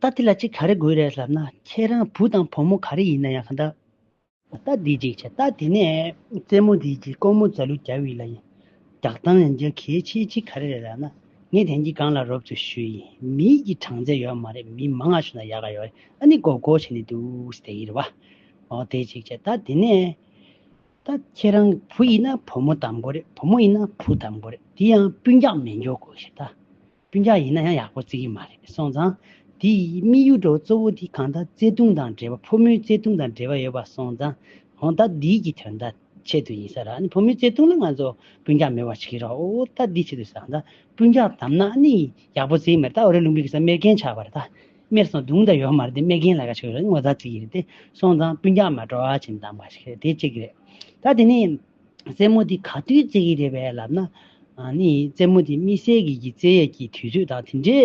S1: ད་འདི་ལ་ཅིག་ག་རེ་དགོས་རེད་ཟེར་ན་ཁྱེད་རང་བུ་དང་བུ་མོ་ག་རེ་ཡིན་ན་ཡང་གང་འདྲ། ད་འདི་ཅིག་བྱ། ད་འདི་ནས་རྩེད་མོ་འདི་གྱིས་ཀོང་མོ་རྫ་ལུ་རྒྱ་བྷི་ལ་ཡིན། རྒྱག་སྟངས་ཡང་རྒྱག་གལ་ཆེ་ཅིག་ག་རེ་རེད་ཟེར་ན། ངས་དེང་གི་སྒང་ལ་རོབ་ཏུ་ཞུས་ཡིན་མིའི་གྱི་གྲངས་ཚད་ཡོད་མ་རེད་མི་མང་ང་ཞུ་ན་ཡག་ག་ཡོད་རེད་ཨ་ནི་གོ་གོ་བྱས་ནས་འདུག་དེ་ཡིན་རེད་བ། འོ་དེ་ཅིག་བྱ། ད་འདི་ནས། ད་ཁྱེད་རང་གི་བུ་ཡིན་ན་བུ་མོ་དམ་གོ་རེད་བུ་མོ་ཡིན་ན་བུ་དམ་གོ་རེད་དེ་ཡང་སྤུན་རྒྱག་མི་འཇོག་གོ་ཞེས་ད་སྤུན་རྒྱག་ཡིན་ན་ཡང་ཡག་པོ་བརྩི་གི་མ་རེད་སོང་ཙང་དེ་ཡི་དམིགས་ཡུལ་གྲོགས་གཙོ་བོ་དེ་གང་ད་བརྩེ་དུང་དང་འབྲེལ་བ་ཕོ་མོའི་བརྩེ་དུང་དང་འབྲེལ་བ་ཡོད་པ་སོང་ཙང་ཧོན་ད་འདིའི་གི་དོན་ད་ཆེད་དུ་ཡིན་ས་ར་ནི་ཕོ་མོའི་བརྩེ་དུང་ལ་ང་ཚོ་སྤུན་རྒྱག་མི་བ་ཆི་གི་རོགས་ཨོ་ད་འདི་ཆེད་དུ་ས་ད་སྤུན་རྒྱག་དམ་ན་ནི་ཡག་པོ་བརྩི་གི་མ་རེད་ད་ཨོ་རེ་ལུང་པའི་གི་ས་མེར་གན་ཆག་པ་རེད་ད། སྨད་སོང་དུང་དང་ཡོ་མ་རེད་དེ་སྨད་རྒན་ལ་ག་ཆོད་རེད་ངོ་ཚ་ཚིག་རེད་དེ་སོང་ཙང་སྤུན་རྒྱག་མ་འགྲོ་ཨ་ཆེན་དང་མ་ཞིག་རེད་དེ་གཅིག་རེད་ད་དེ་ནས། རྩེད་མོ་དེ་ག་དུས་རྩེ་གི་རེད་བས་ལབ་ན། ནི་རྩེད་མོ་དེ་དམིགས་བསལ་གྱི་གྱི་རྩེད་ཡས་ཀྱི་དུས་ཚོད་དང་དེ་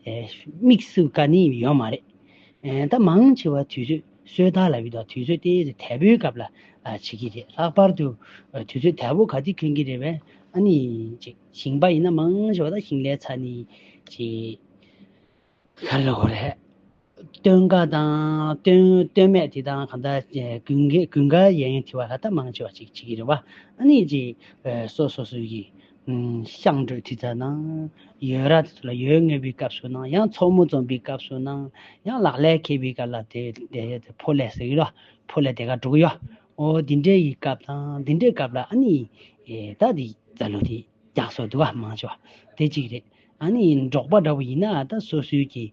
S1: འདྲའི། དམིགས་སུ་བཀར་ནི་ཡོད་མ་རེད། ད་མང་ཆེ་བ་དུས་ཚོད་སོས་དལ་ལ་ཡོད་དང་དུས་ཚོད་དེ་ཚེ་དལ་པོའི་སྐབས་ལ་བྱེད་ཀྱི་རེད་ལྷག་པར་དུ། དུས་ཚོད་དལ་པོ་ག་དུས་འཁེལ་གི་རེད་བས་ཨ་ནི། ཞིང་པ་ཡིན་ན་མང་ཆེ་བ་ད་ཞིང་ལས་ཚ་ནི་བྱེད། ཧ་ལས་ཧོ་ལས། སྟོན་དགའ་དང་སྟོན་སྟོན་མེད་དེ་དང་གང་དག་ཀུན་དགའ་ཀུན་དགའ་ཡན་ཡན་དེ་བ་ལྷ་དག་མང་ཆེ་བ་ཅིག་ཅིག་གིས་རེ་བ་ཨ་ནི་ཅི། སོ་སོ་སོ་ཡི། ཤངས་འགྲོས་དེ་དག་ནང། ཡོས་ར་དེ་ཚོ་ལ་ཡོས་ངེས་པའི་སྐབས་སུ་ནང་ཡང་ཚོགས་མོ་འཛོམས་པའི་སྐབས་སུ་ནང་ཡང་ལག་ལས་ཁེལ་པའི་སྐབས་ལ་དེ་དེ་ཕོ་ལས་ཟེར་གི་རོ། ཕོ་ལས་དེ་ག་འགྲོ་གི་ཡོ། འོ་འདི་འདྲའི་ཡི་སྐབས་དང་འདི་འདྲའི་སྐབས་ལ་ཨ་ནི། ད་འདི་ད་ལོ་དེ། རྒྱག་སོགས་དུ་བ་མང་ཆེ་བ་དེ་གཅིག་རེད། ཨ་ནི་འབྲོག་པ་འདྲ་བོ་ཡིན་ན་ད་སོ་སོའི་གི་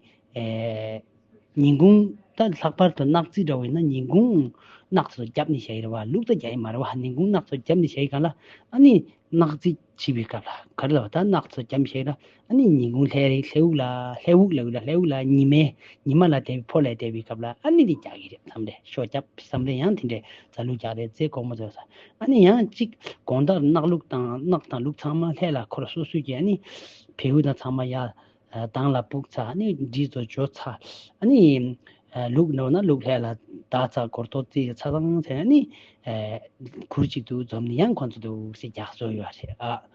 S1: ཉིན་གུང་ད་ལྷག་པར་དུ་ནག་རྩིས་འདྲ་བོ་ཡིན་ན་ཉིན་གུང་ནག་ཚོ་རྒྱབ་ནི་བྱ་ཡི་རེད་བ་ལུག་ད་རྒྱ་ཡི་མ་རེད་བ་ཉིན་གུང་ནག་ཚོ་རྒྱབ་ནི་བྱ་ཡི་ག་ལ་ཨ་ནི་ནག་རྩིས་བྱིས་པའི་སྐབས་ལ་ག་རེ་ལ་བ་ད་ནག་ཚོ་རྒྱབ་ནི་བྱ་ཡི་ལ། ཨ་ནི་ཉིན་གུང་ལྷའི་རིགས་ལྷའི་དབུགས་ལ་ལྷའི་དབུགས་ལ་དབུས་ལ་ལྷའི་དབུགས་ལ་ཉི་མའི་ཉི་མ་ལ་དེ་བས་འཕོ་ལས་འདས་པའི་སྐབས་ལ་ཨ་ནི་འདི་རྒྱག་གི་རེད་བསམ་རེ་ཤོ་རྒྱབ་བསམ་རེ་ཡང་དེ་འདྲའི་རྫ་ལུག་རྒྱག་རེ་རྫས་སྒོར་མོ་རྫོགས་ས་ཨ་ནི་ཡང་གཅིག་དགོང་ལྟར་གནག་ལུག་དང་གནག་དང་ལུག་ཚང་མ་ལྷས་ལ་འཁོར་སོ་སོས་ཀྱི་ཨ་ནི་བེའུ་དང་ཚང་མ་ཡར་ལྡང་ལ་སྤུག་ཚ་ཨ་ནི་འདྲིས་རྫོ་འཇོ་ཚ་ཨ་ནི་ལུག་ནོར་ན་ལུག་ལྷས་ལ་བདག་ཚ་སྒོར་ཐོག་རྩིས་ལ་ཚ་ཚང་ཚ་ཨ་ནི་གུར་གཅིག་འདུག་འཛོམས་ནི་ཡང་ཁོ་ཚོ་འདུག་སེ་རྒྱག་སོ་ཡོད་རེད་ཨ།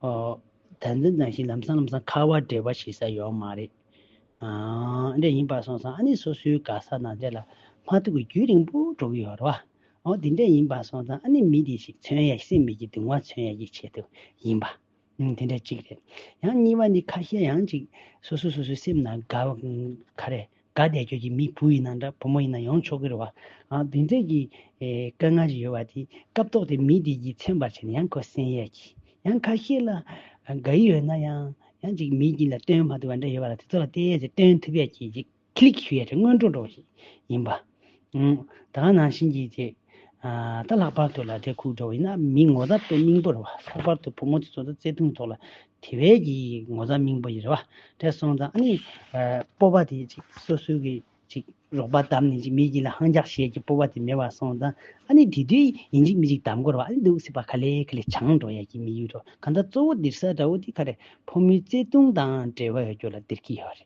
S1: དལ་འཛིན་དང་ཞིག་ལམ་སང་ལམ་སང་ཁ་བ་འབྲེལ་བ་ཞིག་ས་ཡོག་མ་རེད། འདྲེ་ཡིན་པར་སོང་སང་ཨ་ནི་སོ་སོའི་དགའ་ས་ན་འདྲེ་ལ་མ་ཐུག་གི་རྒྱུས་རིང་པོ་འགྲོ་གི་ཡོག་རེད་བ། འོ་དེ་འདྲེ་ཡིན་པར་སོང་སང་ཨ་ནི་མི་དེ་ཞིག་མཚོན་ཡ་སེམས་མི་གི་དུང་བ་མཚོན་ཡ་ཡི་ཆེད་དུ་ཡིན་པ། དེ་འདྲ་གཅིག་རེད། ཡང་གཉིས་བ་ནི་ཁ་ཤས་ཡང་ཅིག་སོ་སོ་སོ་སོའི་སེམས་ན་དགའ་བ་ག་རེ། དགའ་བདེ་ཁྱོད་ཀྱི་མི་བུ་ཡིན་ན་འདྲ་བུ་མོ་ཡིན་ན་ཡང་ཆོག་གི་རེད་བ། འདི་འདྲ་གི་དཀའ་ངལ་ཞིག་ཡོད་བ་དེ་སྐབས་ཐོག་དེ་མི་དེ་གྱིས་ཚན་པར་བྱས་ནས་ཡང་ཁོ་གསན་ཡས་ཀྱི། ཡང་ཁ་ཤས་ལ་དགའ་ཡི་ཡོད་ན་ཡང་ཡང་ཅིག་མི་གྱི་ལ་སྟོན་མ་ཐུབ་བ་འདྲ་ཡོད་བ་ལ་དེ་ཚོ་ལ་བལྟས་ཡས་ཚེ་སྟོན་ཐུབ་ཡས་ཀྱི་ཅིག་ཁི་ལིག་ཞུ་ཡས་ཚེ་སྔོན་འགྲོ་འགྲོ་བ་ཞིག་ཡིན་པ། ད་ནང་བཞིན་གྱིས་དེ་ལྟ་ལྷག་པར་དུ་ལ་དེ་ཁུག་འགྲོ་བ་ཡིན་ན་མིའི་ངོ་ཚ་པའི་སྙིང་པོར་བ་ལྷག་པར་དུ་བུ་མོ་དེ་ཚོ་ད་བརྩེ་དུང་ཐོག་ལ་དེ་བས་ཀྱི་ངོ་ཚ་སྙིང་པོ་ཡི་རེད་བ་དྲས་སོང་ཙང་ཨ་ནི་སྤོ་བ་དེ་ཅིག་སོ་སོའི་གི་ཅིག་རོགས་པ་བདམས་ནས་ཅིག་མི་གྱི་ལ་ཧང་རྒྱག་ཞེས་ཀྱི་སྤོ་བ་དེ་མེད་བ་སོང་ཙང་ཨ་ནི་དེ་དུས་ཡིན་ཅིག་མི་ཅིག་བདམས་དགོས་ར་བ་ཨ་ནི་འདུག་སྲིད་པ་ག་ལེ་ག་ལེ་བྱང་འགྲོ་ཡ་གྱི་མི་ཡུལ་དུ་གང་ད་གཙོ་བོ་འདིར་ས་འདྲ་བོ་དེ་ག་རེ་ཕོ་མོའི་བརྩེ་དུང་དང་འབྲེལ་བ་ཡོད་རྒྱུ་ལ་འདིར་གྱི་ཡོད་རེད།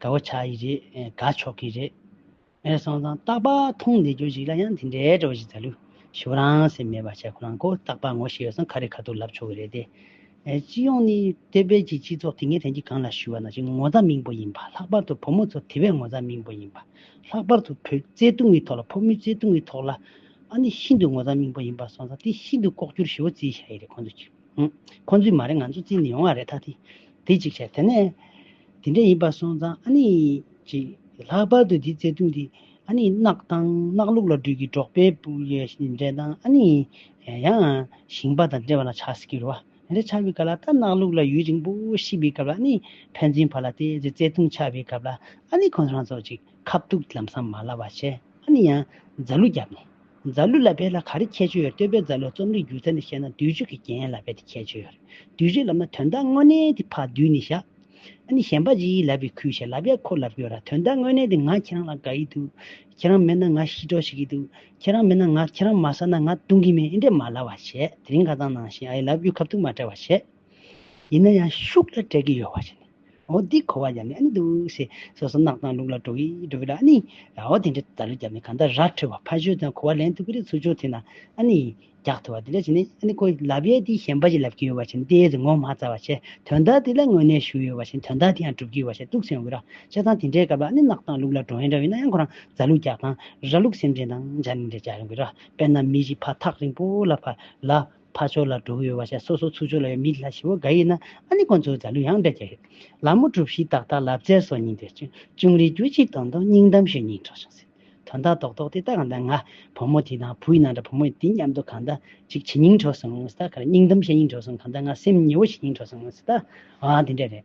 S1: དགའ་བོ་ཆགས་ཀྱི་རེད་དགའ་ཆོག་གི་རེད། ངས་སོང་ཙང་སྟག་པ་མཐོང་ནས་རྒྱུ་ཞིག་ལ་ཡང་དེ་འདྲའི་བྲོ་བ་ཞིག་ཟ་ལུགས་ཞུ་རང་སེམས་མེད་པ་བྱས་ཁོ་རང་ཁོ་སྟག་པ་ངོ་ཤེས་ཡོད་ཙང་ཁ་རེ་ཁ་ཐུག་ལབ་ཆོག་གི་རེད་དེ། སྤྱི་ཡོངས་ནས་བལྟས་བལ་གྱི་སྤྱི་ཚོགས་དེ་ངས་དྲན་གྱི་གང་ལ་ཞུ་བ་ན་ཅིག་ངོ་ཚ་མིང་པོ་ཡིན་པ་ལྷག་པར་དུ་བུ་མོ་ཚོ་དེ་བས་ངོ་ཚ་མིང་པོ་ཡིན་པ་ལྷག་པར་དུ་བུ་བཙའི་སྟུག་མི་ཐོག་ལ་ཕོ་མོའི་བཙའི་སྟུག་མི་ཐོག་ལ་ཨ་ནི་ཤིན་ཏུ་ངོ་ཚ་མིང་པོ་ཡིན་པ་སོང་ཙང་དེ་ཤིན་ཏུ་ལྐོག་གྱུར་ཞེ་བོ་བརྩིས་བཞག་ཡི་རེད་ཁོ་ཚོས་ཀྱིས་ཁོ་ཚོས་མ་རེད་ང་ཚོ་བརྩིས་ནས་ཡོང་བ་རེད་ད་དེ་དེ་ཅིག་བྱས་དེ་ནས། དེ་འདྲ་ཡིན་པ་སོང་ཙང་ཨ་ནི་ཅིག་ལྷག་པར་དུ་འདིའི་བརྩེ་དུང་དེ་ཨ་ནི་གནག་དང་གནག་ལུག་ལ་སྦྲུལ་གྱི་སྒྲོག་པས་སྤུ་ཡི་འདྲེ་དང་ཨ་ནི་ཡང་ཞིང་པ་དང་འདྲེ་བ་ན་ཆགས་སྲིད་ཀྱི་རུ་བ་དེ་འདྲ་ཆགས་པའི་སྐབས་ལ་ད་གནག་ལུག་ལ་ཡུན་རིང་པོ་ཤི་བའི་སྐབས་ལ་ཨ་ནི་ཕན་ཚུན་བར་ལ་དེ་ཚོའི་བརྩེ་དུང་ཆགས་པའི་སྐབས་ལ་ཨ་ནི་ཁོང་རང་ཚོ་ཅིག་ཁ་བཏུགས་ལམ་སང་མ་ལ་བ་བྱས་ཨ་ནི་ཡང་རྫ་ལུ་བརྒྱབ་ནས། རྫ་ལུ་ལ་བལྟས་ན་ག་རེ་ཁྱད་ཆོས་ཡོད་རེད་ལྟོས་པའི་རྫ་ལུའི་རྩོམ་རིག་སྒྱུ་རྩལ་ནི་བཤད་ན་བསྡུས་བརྗོད་ཀྱི་རྒྱན་ཡིན་ལ་རྦད་དེ་ཁྱད་ཆོས་ཡོད་རེད་བསྡུས་བརྗོད་ལབ་ན་དོན་དག་དངོས་གནས་དེ་ཕ་བསྡུས་ནས་བཞག་ཨ་ནི་གཞན་པ་གཅིག་ཡིད་ལབ་པའི་ཁུལ་བྱས་ལབ་ཡ་ཁོ་ལབ་གི་ཡོད་ར་དོན་དག་དངོས་གནས་དེ་ང་ཁྱེད་རང་ལ་དགའ་ཡི་འདུག་ཁྱེད་རང་མེད་ན་ང་ཤི་གྲོགས་བྱེད་ཀྱི་འདུག་ཁྱེད་རང་མེད་ན་ང་ཁྱེད་རང་མ་ཟ་ན་ང་བཏུང་གི་མེད་ཨི་འདྲས་མ་ལབ་བ་བྱས་དེ་རིང་ཁ་ཚང་ནང་བཞིན་ཨ་ཡི་ལབ་རྒྱུ་ཁབ་ཐུག་མ་བྲལ་བ་བྱས། ཡིན་ན་ཡང་ཤུགས་ལ་སྤྲད་ཀྱི་ཡོད་བ་ཞིག་ནི་འོ་འདི་གོ་བ་རྒྱབ་ནས་ཨ་ནི་འདུག་ཞེས་སོ་སོ་རྣག་དང་ལུག་ལ་འགྲོ་གི་འགྲོ་གི་ལ་ཨ་ནི། འོ་དེ་འདྲའི་ད་ལོ་རྒྱབ་ནས་གང་ལྟར་ར་འཕྲོད་བ་ཕ་ཞོལ་དང་གོ་བ་ལེན་ཐུབ་ཀྱི་རེད་ཚུར་སྦྱོར་ཐེངས་དང་ཨ་ནི། རྒྱག་ཐུབ་བ་དེ་ལས་ཅི་ནས་ཨ་ནི་ཁོས་ལབ་ཡས་དེ་གཞན་པ་ཞིག་ལབ་ཀྱི་ཡོད་བ་ཞིག་ནི་དེའི་རིགས་ངོ་མ་རྩ་བ་ཆེ་དོན་དག་དེ་ལ་དངོས་གནས་ཞུགས་ཡོད་བ་ཞིག་ནི་དོན་དག་དེ་ཡང་འགྲུབ་ཀྱི་ཡོད་བ་ཞིག་ཏུག་སེམས་འོད་ར་ཆེ་ཙང་དེ་འདྲའི་སྐབས་ལ་ཨ་ནི་རྣག་དང་ལུག་ལ་འགྲོ་ཡས་འདྲ་ཡིན་ན་ཡང་ཁོ་རང་རྫ་ལུག་རྒྱག་དང་ར་ལུག་སེམས་ཅན་དང་སྦྱར་ནས་འདྲ་རྒྱག་ཡོང་གི་ར་དཔེར་ན་མི་ཞིག་ཕ་ཐག་རིང་པོ་ལ་ཕ་ལ། ཕར་ཕྱོགས་ལ་འགྲོ་གི་ཡོད་བ་ཤ་སོ་སོ་ཚུར་ཕྱོགས་ལ་ཡོད་མི་ལ་ཞི་བ་འགའ་ཡིན་ན་ཨ་ནི་ཁོང་ཚོས་རྫ་ལུས་ཡང་འདྲ་རྒྱག་ཡོད། ལ་མོ་གྲུབ་བཞི་ཏག་ཏག་ལབ་རྩེ་སོགས་གཉིས་འདིར་བྱོན་ཅུང་རིག་རྒྱུ་གཅིག་དང་དང་སྙིང་གཏམ་ཞིག་གཉིས་གྲགས་བྱུང་ཟེར། དོན་དག་རྡོག་རྡོག་དེ་ལྟ་གང་འདྲ་ང་བུ་མོ་དེ་དང་བུ་ཡིན་ན་འདྲ་བུ་མོ་ཡིན་དེ་མཉམ་དུ་གང་འདྲ་ཅིག་བྱེད་སྙིང་དྲོ་སོང་ཟེར་ད་ག་རེ་སྙིང་གཏམ་བཤད་སྙིང་དྲོ་སོང་གང་འདྲ་ང་སེམས་ཉེ་བོ་བྱེད་སྙིང་དྲོ་སོང་ཟེར་ད་ཨང་དེ་འདྲ་རེད།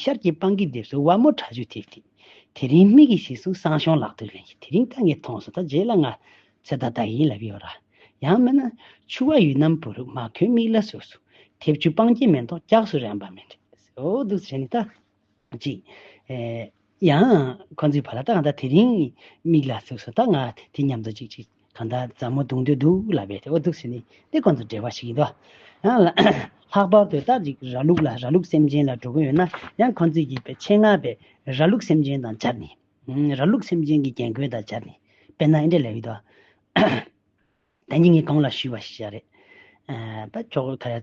S1: ཤར་གྱི་སྤང་གི་ལྡེབས་སུ་བ་མོ་ཁྲ་ཆུ་ཐིག་ཐིག། དེ་རིང་མིག་གིས་ཞིག་གསུངས་སང་ཞོང་ལག་ཏུ་ལེན་གྱི་དེ་རིང་ད་ངས་མཐོང་སོང་ད་རྗེས་ལ་ང། ཚེ་ད་ད་ཡིན་ལབ་ཡོད་ར། ཡང་མིན་ན། ཆུ་བ་ཡུལ་རྣམས་བུ་རུ་མ་ཁོའི་མིག་ལ་ཟུག་ཟུག། དེབ་ཆུ་སྤང་སྐྱེས་མེ་ཏོག་སྐྱགས་སུ་རན་པ་མི་འདྲ། ཨོ་དུག་བྱས་ནས་ད། ཅིག། ཡང། ཁོ་ཚོའི་བར་ལ་ད་ང་ད་དེ་རིང། མིག་ལ་ཟུག་ཟུག་ད་ང་དེ་མཉམ་དུ་ཅིག་ཅིག་གང་ད་མཛའ་མོ་འདུག་འདོད་འདུག་ལབ་པའི་དེ་འོ་འདུག་ཟེར་ནི་དེ་ཁོ་ཚོ་འབྲེལ་བ་ཞིག་ཡིན་དོ། ཡང། ལྷག་པར་དུ་ད་ཅིག་ར་ལུག་ལ་ར་ལུག་སེམས་ཅན་ལ་འགྲོ་གི་ཡོད་ན་ཡང་ཁོ་ཚོས་ཡིད་པའི་ཆེད་མངགས་པའི་ར་ལུག་སེམས་ཅན་དང་སྦྱར་ནི། ར་ལུག་སེམས་ཅན་གྱི་རྒྱན་གོས་དང་སྦྱར་ནི་དཔེར་ན་འདྲེ་ལ་ཡོད་དོ། བདེན་གཉིས་ངས་གང་ལ་ཞུས་པ་ཞིག་བྱས་རེད། ད་ཁྱོ་ག།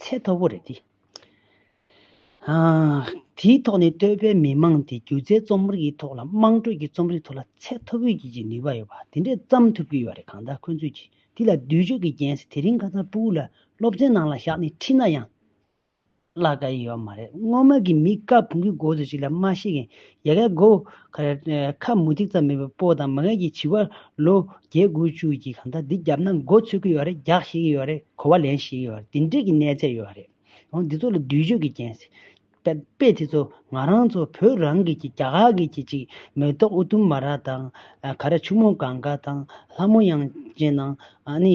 S1: ཚད་མཐོ་པོ་རེད་དེ། དེའི་ཐོག་ནས་སྟོད་པའི་མི་མང་དེ་སྒྱུ་རྩལ་རྩོམ་རིག་གི་ཐོག་ལ་དམངས་ཁྲོད་ཀྱི་རྩོམ་རིག་ཐོག་ལ་ཚད་མཐོ་པོའི་གྱི་གྱི་ནུས་པ་ཡོད་པ་དེ་འདྲས་བརྩམས་ཐུབ་ཀྱི་ཡོད་རེད་གང་ལྟར་ཁོ་ཚོས་གྱི་དེ་ལ་བསྡུས་བརྗོད་ཀྱི་རྒྱན་ཞིག་དེ་རིང་ཁ་ཚར་པུའུ་ལ་སློབ་ཚན་ནང་ལ་བཞག་ནས་ཁྲིད་ན་ཡང་བརླག་དཀའ་ཡི་ཡོད་མ་རེད་སྔོན་མ་གི་མི་དཀར་བོང་གི་མགོ་བཟོ་ཞིག་ལ་སྨྲ་ཤེས་མཁན་ཡལ་གའི་སྒོ། ཁ་མུ་ཏིག་ཙམ་མེད་པའི་སྤོ་དང་མ་ངེས་ཀྱི་བྱི་བ། ལོ་བརྒྱད་དགུ་བཅུ་གྱི་གང་ཟག་འདི་བརྒྱབ་ན་མགོ་ཚོས་ཀྱི་ཡོད་རེད་རྒྱག་ཤེས་ཀྱི་ཡོད་རེད་གོ་བ་ལེན་ཤེས་ཀྱི་ཡོད་རེད་འདི་འདྲས་ཀྱི་གནས་ཚད་ཡོད་རེད། འོང་འདི་ཚོ་ལ་བསྡུས་བརྗོད་ཀྱི་རྐྱེན་སྲིད། དཔེ་དེ་ཚོ་ང་རང་ཚོ་བོད་རང་གི་གི་རྒྱ་གར་གི་གྱི་ཅིག་མེ་ཏོག་ཨུ་དུམ་མ་ར་དང། ག་ར་ཆུ་མོ་གང་ག་དང་ལྷ་མོ་དབྱངས་ཅན་དང། ཨ་ནི།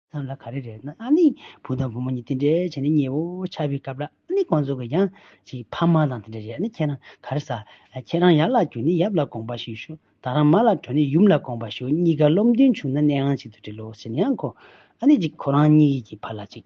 S1: ཙམ་ལ་ག་རེ་རེད་ན་ཨ་ནི་བུ་དང་བུ་མོ་གཉིས་དེ་འདྲའི་བྱས་ནས་ཉེ་བོ་ཆགས་པའི་སྐབས་ལ་ཨ་ནི་ཁོང་ཚོ་གི་ཡང་ཅིག་ཕ་མ་དང་དེ་འདྲ་རེད་ཨ་ནི་ཁྱེད་རང་ག་རེ་ཟ། ཁྱེད་རང་ཡར་ལ་རྒྱུག་ནས་ཡབ་ལ་དགོངས་པ་ཞུས་ཤོག་ད་རང་མ་ལ་བྲོས་ནས་ཡུམ་ལ་དགོངས་པ་ཞུ་གཉིས་ཀ་བློ་མཐུན་བྱུང་ན་གནས་ཁང་ཅིག་ཏུ་འབྲེལ་ལོ་ཟེར་ནའང་གོ། ཨ་ནི་ཅིག་ཁོ་རང་གཉིས་ཀྱི་བར་ལ་ཅིག།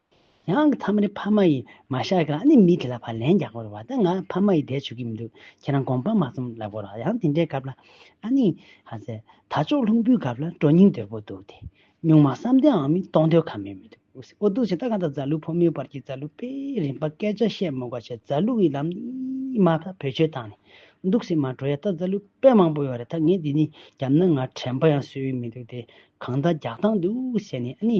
S1: ཡང་གི་ཐ་མ་ནི་ཕ་མ་ཡིས་མ་བཤགས་ཀྱང་ཨ་ནི་མི་དེ་ལ་བར་ལན་རྒྱག་དགོས་བ་ད་ང་ཕ་མ་ཡི་དད་བྱུ་གི་མི་འདུག་ཁྱེད་རང་དགོངས་པ་མ་རྩོམ་ལབ་དགོས་ར་ཡང་དེ་འདྲའི་སྐབས་ལ་ཨ་ནི། ཧ་ཟེར། ད་ཅོག་ལྷུང་བུའི་སྐབས་ལ་སྤྲོ་སྙིང་དོད་པོ་འདུག་དེ། སྨྱུག་མ་བསམ་གཏན་འང་མི་གཏོང་འདོད་ཁ་མེད་མི་འདུག་ཨོ་སི་ཨོ་འདུག་བྱས་ད་ག་དང་རྫ་ལུག་ཕོ་མོའི་བར་གྱི་རྫ་ལུག་པས་རིམ་པ་སྐད་ཆ་བཤད་མོ་ག་བྱས་རྫ་ལུག་ཡི་ལམ་ནི་མ་ད་བོད་ཆོལ་བཏང་ནས་འདུག་སེ་མ་འགྲོ་ཡ་ད་རྫ་ལུག་པས་མང་པོ་ཡོད་རེད་ད་ངས་དེ་ནི་རྒྱབ་ན་ང་དྲན་པ་ཡང་སོས་ཡོད་མི་འདུག་དེ་གང་ད་རྒྱག་སྟངས་འདུག་ཟེར་ནས་ཨ་ནི།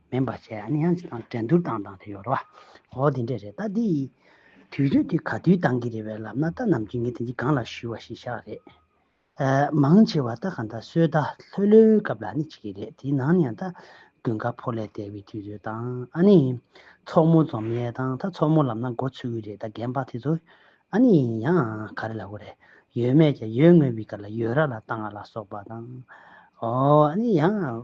S1: མིན་པར་བྱས་ཨ་ནི་ཡང་ཅིག་དང་འགྲན་བསྡུར་བཏང་སྟངས་དེ་ཡོད་རེད་བ། འོ་དེ་འདྲས་རེད་ད་དེ་ཡིས། དུས་ཚོད་དེ་ག་དུས་བཏང་གི་རེད་བས་ལབ་ན་ད་ནམ་རྒྱུན་ངས་དེ་འདི་སྒང་ལ་བཞུས་བ་ཞིག་ཤག་རེད། ཨ། མང་ཆེ་བ་ད་ག་ད་སོས་ད་ལྷོད་ལྷོད་སྐབས་ལ་ནི་བྱེད་ཀྱི་རེད་དེའི་ནང་ནས་ཡང་ད། དགུན་ཁ་ཕོ་ལས་དལ་བའི་དུས་ཚོད་དང་ཨ་ནི། མཚོག་མོ་འཛོམས་ཡས་དང་ད་མཚོག་མོ་ལབ་ན་མགོ་ཚོས་གི་རེད་ད་རྒན་པགས་དེ་ཚོ། ཨ་ནི་ཡང་ག་རེ་ལབ་གི་རེད། ཡོད་མེད་ཀྱང་ཡོད་དངོས་པའི་སྐབས་ལ་ཡོད་ར་ལ་བཏང་ང་ལ་སོགས་པ་དང། འོ་ཨ་ནི་ཡང།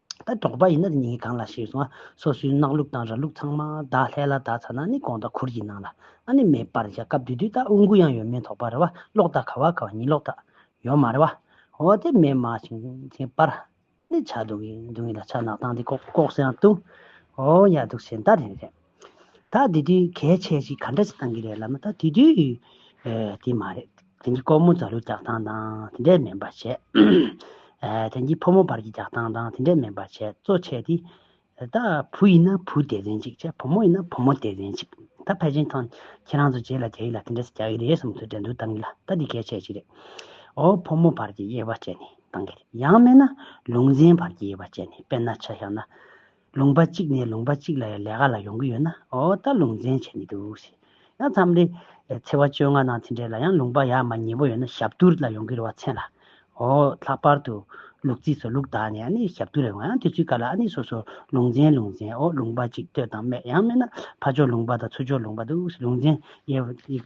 S1: ད་འབྲོག་པ་ཡིན་ན་ནི་གང་ལ་ཞེས་སོང་ང་སོ་སོའི་གནག་ལུག་དང་ར་ལུག་ཚང་མ་དག་ལྷས་ལ་དག་ཚ་ན་ནི་གོང་དང་ཁུར་གྱིས་གནང་ལ་ཨ་ནི་མེད་པར་བཞག་སྐབས་དུས་དུས་ད་དབུ་འགུ་ཡང་ཡོད་མེད་དོགས་པ་རེ་བ་ལོག་ད་ཁ་བ་ཁ་བ་ཉིད་ལོག་ད་ཡོད་མ་རེ་བ་འོ་དེ་མེད་མ་བྱིན་ཅིང་པར་ནི་ཆ་འདུག་གི་འདུག་གི་ལ་ཆ་ནག་ཐང་དེ་ལྐོག་ལྐོག་སེང་ཡང་བཏུང་འོ་ཡ་འདུག་བྱེད་ད་རེད་རེད། ད་དེ་དུས་གལ་ཆེ་ཞིག་ག་འདྲ་ཞིག་གཏང་གི་རེད་ལབ་ན་ད་དེ་དུས་དེ་མ་རེད། དེང་གི་ཀོར་མོ་རྫ་ལུའི་རྒྱག་སྟངས་དང་དེ་འདྲས་མིན་པར་བྱས། དེང་གི་ཕོ་མོ་བར་གྱི་རྒྱག་སྟངས་དང་དེ་འདྲས་མིན་པར་བྱས་གཙོ་བྱས་ཏེ། ད་བུ་ཡིན་ན་བུ་དེ་རེད་ཅིག་བྱས་བུ་མོ་ཡིན་ན་བུ་མོ་དེ་རེད་ཅིག་ད་ཕལ་ཆེན་ཐང་ཁྱེད་རང་ཚོ་རྗེས་ལ་རྒྱ་ཡིག་ལ་དེ་འདྲ་ཞིག་རྒྱག་གི་རེད་བསམ་ཚུལ་འགྲན་བསྡུར་གཏང་གི་ལ་ད་དེ་གལ་ཆེ་ཞིག་རེད། འོ་ཕོ་མོ་བར་གྱི་དབྱེ་བ་བཅད་ནས་གཏང་གི་རེད་ཡང་མེད་ན་ལུང་ཚན་བར་གྱི་དབྱེ་བ་བཅད་ནས་དཔེར་ན་ཆ་བཞག་ན། ལུང་པ་གཅིག་ནས་ལུང་པ་གཅིག་ལ་ཡང་ལས་ཀ་ལ་ཡོང་གི་ཡོད་ན་འོ་ད་ལུང་ཚན་བྱས་མི་འདུག་ཟེར། ཡང་མཚམས་རེ། ཚེ་བ་བཅོ་ལྔ་ནང་ཚན་གྲས་ལ་ཡང་ལུང་པ་ཡག་མ་ཉེས་པོ་ཡོད་ན་ཞབས་བསྡུར་ལ་ཡོང་གི་རེད་བ་མཚན་ལ། འོ་ལྷག་པར་དུ། ལུག་རྫི་སོགས་ལུག་དག་ནས་ཨ་ནི་ཞབས་བསྡུར་ལ་ཡོང་ཡང་དེ་ཚོའི་བཀའ་ལ་ཨ་ནི་སོ་སོར་ལུང་ཚན་ལུང་ཚན་འོ་ལུང་པ་གཅིག་ལྟོས་དང་སྨད་ཡང་སྨད་ན་ཕ་ཕྱོགས་ལུང་པ་དང་ཚུར་ཕྱོགས་ལུང་པ་འདུག་ཟེར་ལུང་ཚན་དབྱེ་བ།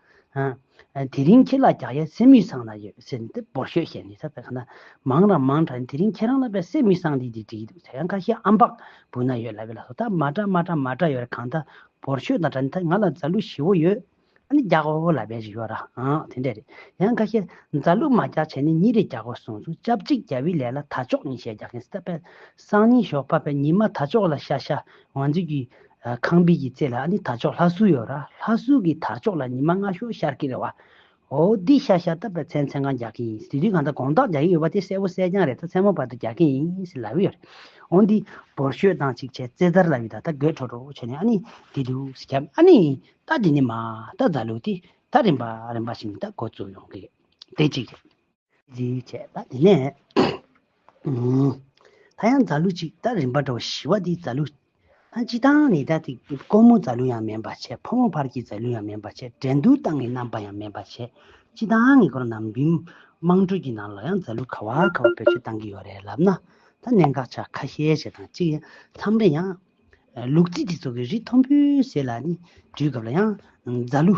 S1: དེ་རིང་ཁྱེད་ལ་རྒྱག་ཡས་སེམས་མི་སངས་ན་ཡོད་ཟེར་ནས་འབོར་ཤོད་བཤད་ནས་ད་ཁ་ན་མང་ར་མང་དྲག་ནས་དེ་རིང་ཁྱེད་རང་ལ་བས་སེམས་མི་སངས་དེ་དེ་བྲིས་འདུག་ཟེར་ཡང་ཁ་ཤས་ཨམ་བག་བུ་ན་ཡོད་ལ་བས་ལ་སོ་ད་མ་དྲག་མ་དྲག་མ་དྲག་ཡོད་ར་གང་ད་འབོར་ཤོད་དང་དྲ་ནས་ད་ང་ལ་རྫ་གླུ་བཞི་བོ་ཡོད་ཨ་ནི་རྒྱག་གོ་ལ་བས་རི་ཡོད་ར་ཨང་དེ་འདྲས་རེད་ཡང་ཁ་ཤས་རྫ་གླུ་མ་རྒྱག་བྱས་ནས་གཉིས་རེ་རྒྱག་གོ་གསུངས་སོང་སྐྱབས་གཅིག་རྒྱལ་བོའི་ལས་ལ་ད་ཅོག་གཉིས་བྱས་རྒྱག་མཁན་ཟེར་ད་བས་སང་ཉིན་ཞོགས་པ་བས་ཉི་མ་ད་ཅོག་ལ་ཤ་ཤ་ང་ཚོས་ཀྱི་ཁང་པའི་ཀྱི་རྩེ་ལ་ནི་དར་ལྕོག་ལྷ་གསུལ་ཡོད་ར་ལྷ་གསུལ་གྱི་དར་ལྕོག་ལ་ཉི་མ་སྔ་ཤོར་ཤར་གྱི་རེད་བ། ཨོ་འདི་ཤ་ཤ་ད་པ་ཚན་ཚན་གང་རྒྱག་གི་ཡིན་དེ་དུས་གང་ད་གོང་དག་རྒྱག་གི་ཡོད་པ་དེ་གསལ་བོ་གསལ་རྐྱང་རེད་ད་མཚན་མོ་བར་དུ་རྒྱག་གི་ཡིན་ལབ་ཡོད་རེད། ཨོ་འདི་བོར་ཤོད་སྟངས་ཅིག་བྱས་རྩེ་དར་ལ་བི་ད་ད་གོས་ཁྲོ་ཁྲོ་བྱས་ནས་ཨ་ནི་དེ་དུས་སི་ཁྱབ་ཨ་ནི་ད་དེ་ནི་མ་ད་རྫ་ལུག་དེ་ད་རིམ་པ་རིམ་པ་བཞིན་ད་གོ་བཙུགས་ཡོང་གི་རེད་དེ་གཅིག་རེད། འདིའི་ཆད་པ་དེ་ནས། ད་ཡང་རྫ་ལུ་ཅིག་ད་རིམ་པར་འགྲོ་བ་ཞི་བ་འདིའི་རྫ་ལུ། ད་ཅི་དང་ནི་ད་དེ་དཀོན་མོ་རྫ་ལུ་ཡང་མིན་པར་བྱས་ཕོ་མོ་བར་གྱི་རྫ་ལུ་ཡང་མིན་པར་བྱས་འགྲན་བསྡུར་སྟངས་ཀྱི་རྣམ་པ་ཡང་མིན་པར་བྱས་ཅི་དང་ནི་འཁོར་ནམ་རྒྱུན་དམངས་ཁྲོད་ཀྱི་ནང་ལ་ཡང་རྫ་ལུ་ཁ་བ་ཁ་བ་བེད་སྤྱོད་བཏང་གི་ཡོད་རེད་ལབ་ན་ད་གནད་འགག་ཆ་ཁ་ཤས་ཤིག་དང་གཅིག་མཚམས་རེ་ཡང། ལུག་རྫི་དེ་ཚོ་གི་རི་མཐོན་པོའི་ཟེར་ལ་ནི་འགྲུལ་སྐབས་ལ་ཡང་རྫ་ལུ།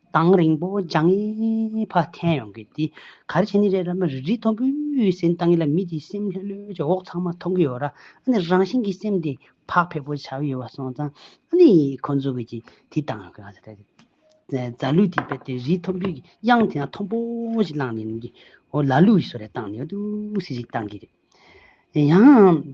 S1: དང་རིང་པོ་ལྗང་ཡེ་བ་འཐེན་ཡོང་གི་འདི་ག་རེ་བྱས་ནི་རེད་ར་མི་རིག་རིག་མཐོང་བུའི་ཟིན་བཏང་གི་ལ་མི་དེའི་སེམས་ལྷོད་ལྷོད་ཀྱི་འོག་ཚང་མ་མཐོང་གི་ཡོད་ར་ཨ་ནི་རང་བཞིན་གྱི་སེམས་དེ་བག་ཕེབས་པོ་བྱ་གི་ཡོད་བ་སོང་ཙང་ཨ་ནི་ཁོ་ཚོ་གི་གི་དེ་བཏང་ཡོང་གི་ང་ཚོ་དེ་རྫ་ལུས་དེ་བེད་དེ་རིག་མཐོང་བུའི་གི་དབྱངས་དེ་ན་མཐོང་པོ་ཞིག་བླངས་ནས་ནི་གི་ཨོ་ལ་ལུས་ཞིག་སོ་རེ་བཏང་ནི་ཨ་དུ་སི་ཞིག་བཏང་གི་རེད་ཡང།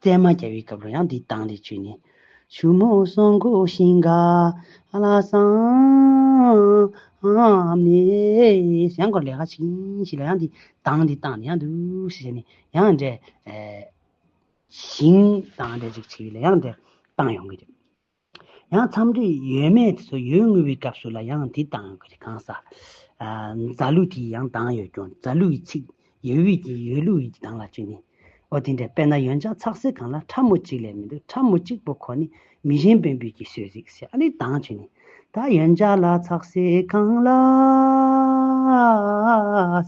S1: བཙས་མ་རྒྱ་བའི་སྐབས་རོ་ཡང་འདི་དང་ལས་བཅོས་ནི། ཆུ་མོ་སྲོང་མགོ་ཤིང་ག་ལ་བསམས་ནས། གཞན་སྐོར་ལས་ཁ་ཆེ་ཡིན་ཞིག་ལ་ཡང་འདི་དང་ལས་བཏགས་ནས་ཡང་འདུག་ཞེས་བྱས་ནས་ཡང་འདྲེ། ཞིང་དང་འདྲེ་ཅིག་ཆེ་བས་ལས་ཡང་འདྲེ་བཏང་ཡོང་གི་རེད། ཡང་འཚམས་འདྲི་ཡོད་མེད་དེ་ཚོ་ཡོད་ངུས་པའི་སྐབས་སུ་ལ་ཡང་དེ་དང་གང་ཟག་རྫ་ལུགས་དེ་ཡང་དང་ཡོད་ཀྱང་རྫ་ལུགས་ཀྱི་ཚིག་ཡོད་དབུས་ཀྱི་ཡོད་ལུགས་ཀྱི་དང་ལ་གཅིག་ནི། ཨོ་དེ་འདྲ་དཔེར་ན་ཡོན་ཅང་ཚག་སེར་གང་ལ་ཁྲ་མོ་གཅིག་ལས་མི་འདུག་ཁྲ་མོ་གཅིག་པོ་ཁོ་ནི་མི་གཞན་བན་བོན་གྱི་སྲོལ་རིགས་ཞེས་ཨ་ལི་དང་གཅིག་ནི། ད་ཡོན་ཅང་ལ་ཚག་སེར་གང་ལ་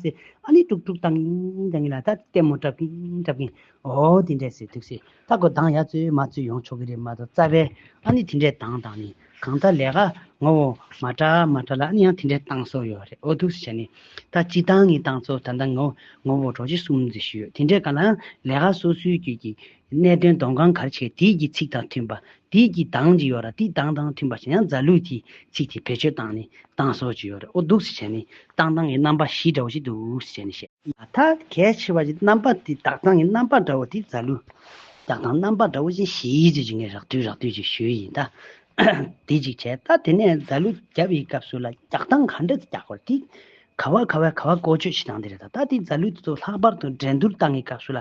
S1: ཟེར་ཨ་ལི་དཀྲུག་དཀྲུག་དང་གིན་དང་གིན་ལ་ད་ལྟད་མོ་བཀྲབ་གིན་བཀྲབ་གིན་ཨོ་དེ་འདྲས་ཟེར་ཐུགས་སྲས་ལྷ་དགོ་གདངས་ཡ་བཙུན་མ་བཙུན་ཡོང་ཆོག་གི་རེད་མ་གཏོགས་རྩ་བའི་ཨ་ནི་དེ་འདྲས་གདངས་དང་ནི་གང་ལྟར་ལས་ཀ་ངོ་བོ་མ་འདྲ་མ་འདྲ་ལ་ཨ་ནི་ཡང་དེ་འདྲས་གདངས་སོགས་ཡོད་རེད་ཨོ་ཐུགས་སྲས་བྱས་ནས་ད་སྤྱི་གདངས་ངི་གདངས་ཚོ་ད་ལྟ་ངོ་ངོ་བོ་གྲོགས་གཅིག་གསུམ་བརྩི་ཞུས་ཡོད་དེ་འདྲས་ག་ལའང་ལས་ཀ་སོ་སོའི་རྒྱུད་ཀྱི་གནད་དོན་སྡོམ་གང་གར་བྱས་དེའི་གི་ཚིག་དང་མཐུན་པ་དེའི་ཀྱི་དང་ཅི་ཡོད་ར་ཏི་དང་དང་མཐུན་པ་བྱས་ན་ཡང་ཛཱ་ལུས་ཀྱི་ཚིག་དེ་བེད་སྤྱོད་དང་ནི་དང་སོགས་ཅི་ཡོད་ར་ཨོ་འདུག་ཅེས་བྱས་ནས་དང་དང་གི་རྣམ་པ་བཞི་འདྲ་བོ་ཅིག་འདུག་ཅེས་བྱས་ནས་བཤད། མ་མཐའ་གལ་ཆེ་བ་ཅིག་རྣམ་པ་དེ་དག་དང་གི་རྣམ་པ་འདྲ་བོ་དེ་ཛཱ་ལུ་དག་དང་རྣམ་པ་འདྲ་བོ་ཅན་བཞི་ཡིས་ཅེས་བྱས་ནས་རགས་བསྡུས་རགས་བསྡུས་ཅིག་ཞུས་ཡིན་ད། དེ་ཅིག་བྱས་ད་དེ་ནས་ཛཱ་ལུ་བརྒྱ་པའི་སྐབས་སུ་ལ་རྒྱག་དང་ག་འདྲ་ཅིག་རྒྱག་གོ་ར་ཏི། ག་བ་ག་བའི་ག་བ་བཀོལ་སྤྱོད་བྱེད་དང་དེ་རེད་ད་ད་དེ་ཛཱ་ལུས་དེ་ཚོ་ལྷག་པར་དུ་འགྲན་བསྡུར་སྟངས་ཀྱི་སྐབས་སུ་ལ་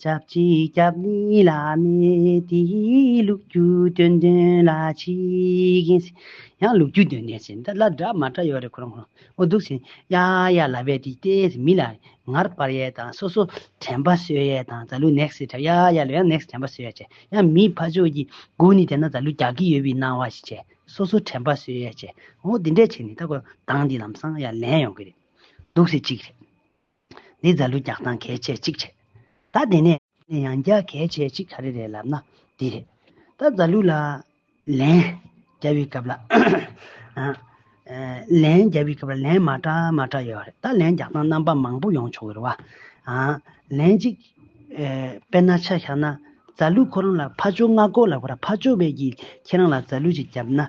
S1: ཆབས་ཅིག་སྐྱབས་གནས་བླ་མེད་དེ་ལུགས་རྒྱུ་སྟོན་དོན་ལ་ཆིག། ཡང་ལུགས་རྒྱུ་སྟོན་ནས་ཟེར་འདི་ལ་སྒྲ་མ་སྒྲ་ཡོད་རེད་ཁོ་རང་ཁོ་རང་འདུག་ཟེར་ཡ་ཡ་ལ་བས་དེ་ལྟའི་ཟེར་མི་ལ་ངར་པར་ཡས་དང་སོ་སོ་དྲན་པ་གསོས་ཡས་དང་ད་ལུགས next hit བྱ་ཡ་ཡ་ལ་ཡང next དྲན་པ་གསོས་ཡས་བྱས་ཡང་མིའི་ཕ་ཆོས་ཀྱི་སྒོ་ནས་བལྟས་ན་ད་ལུགས་རྒྱག་གི་ཡོད་པའི་སྣང་བ་ཞིག་བྱས་སོ་སོ་དྲན་པ་གསོས་ཡས་བྱས་འོ་དེ་འདྲས་བྱས་ནས་ད་ཁོ་རང་དང་འདི་ལམ་སང་ཡ་ལན་ཡོང་གི་རེད་འདུག་ཟེར་ཅིག་རེད། འདི་རྫ་ལུད་རྒྱག་སྟངས་གལ་ཆེ་གཅིག་རེད། ད་དེ་ནས། ནས་ཡང་རྒྱག་གལ་ཆེ་གཅིག་ག་རེ་རེད་ལབ་ན་འདི་རེད། ད་རྫ་ལུད་ལ། ལན། རྒྱག་བའི་སྐབས་ལ། ལན། རྒྱག་བའི་སྐབས་ལ་ལན་མ་ཏྲ་མ་ཏྲ་ཡོད་རེད་ད་ལན་རྒྱག་སྟངས་རྣམ་པ་མང་པོ་ཡོང་ཆོག་གི་རེད་བ། ལན་གཅིག། དཔེར་ན་ཆ་བཞག་ན། རྫ་ལུད་ཁོ་རང་ལ་ཕ་ཅོ་ལྔ་སྒོ་ལ་བོར་ཕ་ཅོ་བས་ཀྱིས་ཁྱེད་རང་ལ་རྫ་ལུད་ཅིག་བརྒྱབ་ན།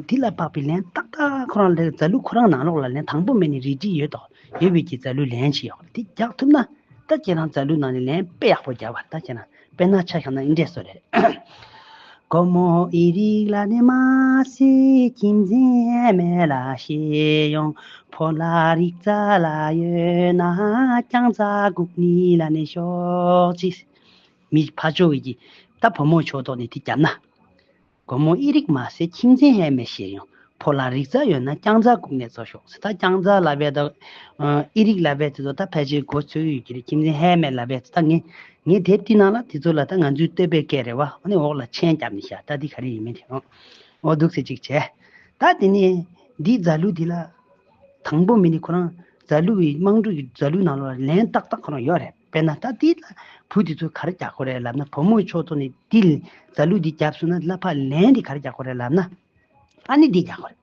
S1: འདི་ལ་དཔག་པའི་ལན་ཏག་ཏག་ཁོ་རང་ལས་རྫ་ལུ་ཁོ་རང་ནང་ལོགས་ལ་ལན་དང་པོ་མེད་ནས་རིས་བྲིས་ཡོད་དོ། ཡོད་བས་ཀྱི་རྫ་ལུའི་ལན་ཞིག་ཡོད་དེ་རྒྱག་ཐུབ་ན། ད་ཁྱེད་རང་རྫ་ལུའི་ནང་ནས་ལན་དཔེ་ཡག་པོ་རྒྱག་པ་ད་ཁྱེད་རང་དཔེ་ན་ཆ་ཤོག་ན་ཨི་འདྲས་སོ་རེད། སྒོར་མོ་ཨི་རིགས་ལ་ནི་མ་ཟེ་ཁྱིམ་མཚན་མེད་ལ་ཤེས་ཡོང་ཕོ་ལ་རིག་རྫ་ལ་ཡོད་ན་རྐྱང་རྫ་གུག་ནི་ལ་ནི་ཤོག་ཅིག། མི་ཕ་ཆོས་ཀྱི་ད་བུ་མོ་ཆོས་ཐོག་ནས་དེ་རྒྱབ་ན། དགོང་མོ་ཨི་རིག་མ་ཟེར་ཁྱིམ་མཚན་ཧད་མེད་བྱེད་ཡོང། ཕོ་ལ་རིག་རྩལ་ཡོད་ན་རྐྱང་རྩལ་སྒུག་ནས་བཙོ་ཤོག་ཟེར་ད་རྐྱང་རྩལ་ལ་བས་ད། ཨི་རིག་ལ་བས་དེ་ཚོ་ད་ཕལ་ཆེར་སྒོ་ཚོད་ཡོད་ཀྱི་རེད་ཁྱིམ་མཚན་ཧད་མེད་ལ་བས་ད་ངས་ངས་དེ་བསྟི་གནང་ལ་དེ་ཚོ་ལ་ད་ང་ཚོའི་བསྟོད་པའི་སྐད་རེ་བ་འོ་ནི་འོག་ལ་མཆན་བརྒྱབ་ནས་བཞག་ད་འདི་ག་རེ་ཡིན་མིན་དེ་འོ་འོ་འདུག་ཟེར་ཅིག་བྱས། ད་དེ་ནས་འདི་རྫ་ལུ་དེ་ལ། དང་པོ་མི་ནི་ཁོ་རང་རྫ་ལུའི་དམངས་ཁྲོད་ཀྱི་རྫ་ལུའི་ནང་ལོགས་ལ་ལན་ཏག་ཏག་ཁོ་རང་ཡོད་རེད། དཔེར་ན་ད་འདི་ལ་བུ་དེ་ཚོ་གར་རྒྱག་དགོས་རེད་ལབ་ན་བུ་མོ་ཁྱོད་ཚོ་ནི་འདི་ལས་རྫ་ལུ་འདི་བརྒྱབ་སོང་ན་གླ་ཕ་ལན་འདི་གར་རྒྱག་དགོས་རེད་ལབ་ན་ཕ་ནི་འདི་རྒྱག་དགོས་རེད།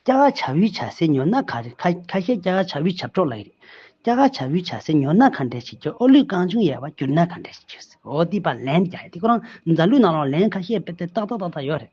S1: སྐྱ་ཀ་བྱ་ཝུའི་བྱ་སའི་ཉོ་སྣ་ཁ་རེད་ཁ་ཁ་ཤས་སྐྱ་ཀ་བྱ་ཝུའི་བྱབ་གྲོགས་ལ་ཡི་རེད། སྐྱ་ཀ་བྱ་ཝུའི་བྱ་སའི་ཉོ་སྣ་ཁ་འདྲེ་ཞིག་གྱུར་ཨོ་ལུས་རྐང་ཆུང་ཡལ་བ་གྱུར་ན་ཁ་འདྲེ་ཞིག་གྱུར་སྲིད་འོ་འདི་ཕ་ལན་འདི་རྒྱག་ཡ་འདི་ཁོ་རང་རྫ་ལུས་ནང་ལ་ལན་ཁ་ཤས་བེད་སྟེ་ཏག་ཏག་ཏག་ཏག་ཡོད་རེད།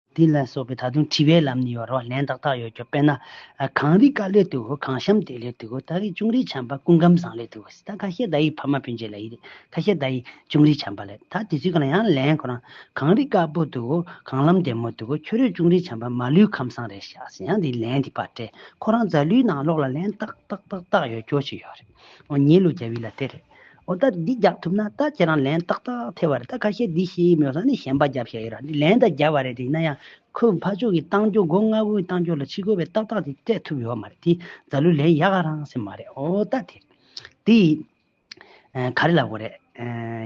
S1: འདི་ལ་སོགས་པའི་ད་དུང་དྲི་བའི་ལམ་ནི་ཡོད་རོ། ལན་ཏག་ཏག་ཡོད་ཀྱོ་དཔེར་ན། གངས་རི་དཀར་ལས་དུ་འོ་གངས་ཤམ་དེ་ལས་དུ་འོ་ཏཱ་ཡིག་ཅུང་རིས་བྱམས་པ་ཀུན་ཁམས་བཟང་ལས་དུ་འོ་སི་ད་ཁ་ཤས་ད་ཡིག་ཕ་མ་བུ་འཇལ་ལ་ཡི་རེ་ཁ་ཤས་ད་ཡིག་ཅུང་རིས་བྱམས་པ་ལས་ད་དེ་ཚུལ་གང་ལ་ཡང་ལན་ཁོ་རང་གངས་རི་དཀར་པོ་དུ་འོ་གངས་ལམ་བདེ་མོ་དུ་འོ་ཁྱོད་རོས་ཅུང་རིས་བྱམས་པ་མ་ལུས་ཁམས་བཟང་རེད་ཤག་སེ་ཡང་དེ་ལན་དེ་པར་སྤྲད་ཁོ་རང་རྫ་ལུའི་ནང་ལོག་ལ་ལན་ཏག་ཏག་ཏག་ཏག་ཡོད་ཀྱོ་ཅིག་ཡོད་རེད་འོ་ཉེ་ལུགས་རྒྱ་བྷི་ལ་དེ་རེད། འོ་ད་འདི་རྒྱག་ཐུབ་ན་ད་ཁྱེད་རང་ལན་ཏག་ཏག་ཐེབས་པ་རེད་ད་ཁ་ཤས་འདི་ཤེས་ཀྱི་མེད་ས་ནི་གཞན་པ་རྒྱབ་ཤ་ཡོད་ར་འདི་ལན་ད་རྒྱབ་པ་རེད་དེ་ཡིན་ན་ཡང་ཁོས་ཕ་ཕྱོགས་ཀྱི་ཏང་སྐྱོང་འགོ་ལྔ་བོའི་ཏང་སྐྱོང་ལ་ཕྱི་རྒོལ་བའི་ཏག་ཏག་དེ་སྤྲད་ཐུབ་ཡོད་མ་རེད་དེ་རྫ་ལུས་ལན་ཡག་ག་རང་སེ་མ་རེད་འོ་ད་དེ་དེ་ག་རེ་ལ་གོ་རེད་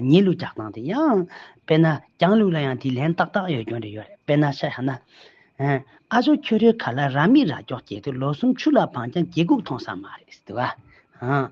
S1: ཉེས་ལུགས་རྒྱག་སྟངས་དེ་ཡང་དཔེར་ན་རྒྱང་ལུགས་ལ་ཡང་དེ་ལན་ཏག་ཏག་ཡོད་སྐྱོན་རེ་ཡོད་རེད་དཔེར་ན་ཤ་ཡག་ན་ཨ་ཟོ་ཁྱོད་རོའི་ག་ལ་ར་མི་ར་ཀྱོག་སྐྱེས་དུས་ལོ་གསུམ་ཆུ་ལ་བངས་ཀྱང་རྒྱལ་ཁུག་མཐོང་ས་མ་རེད་སེ་དེ་བ་ཧང།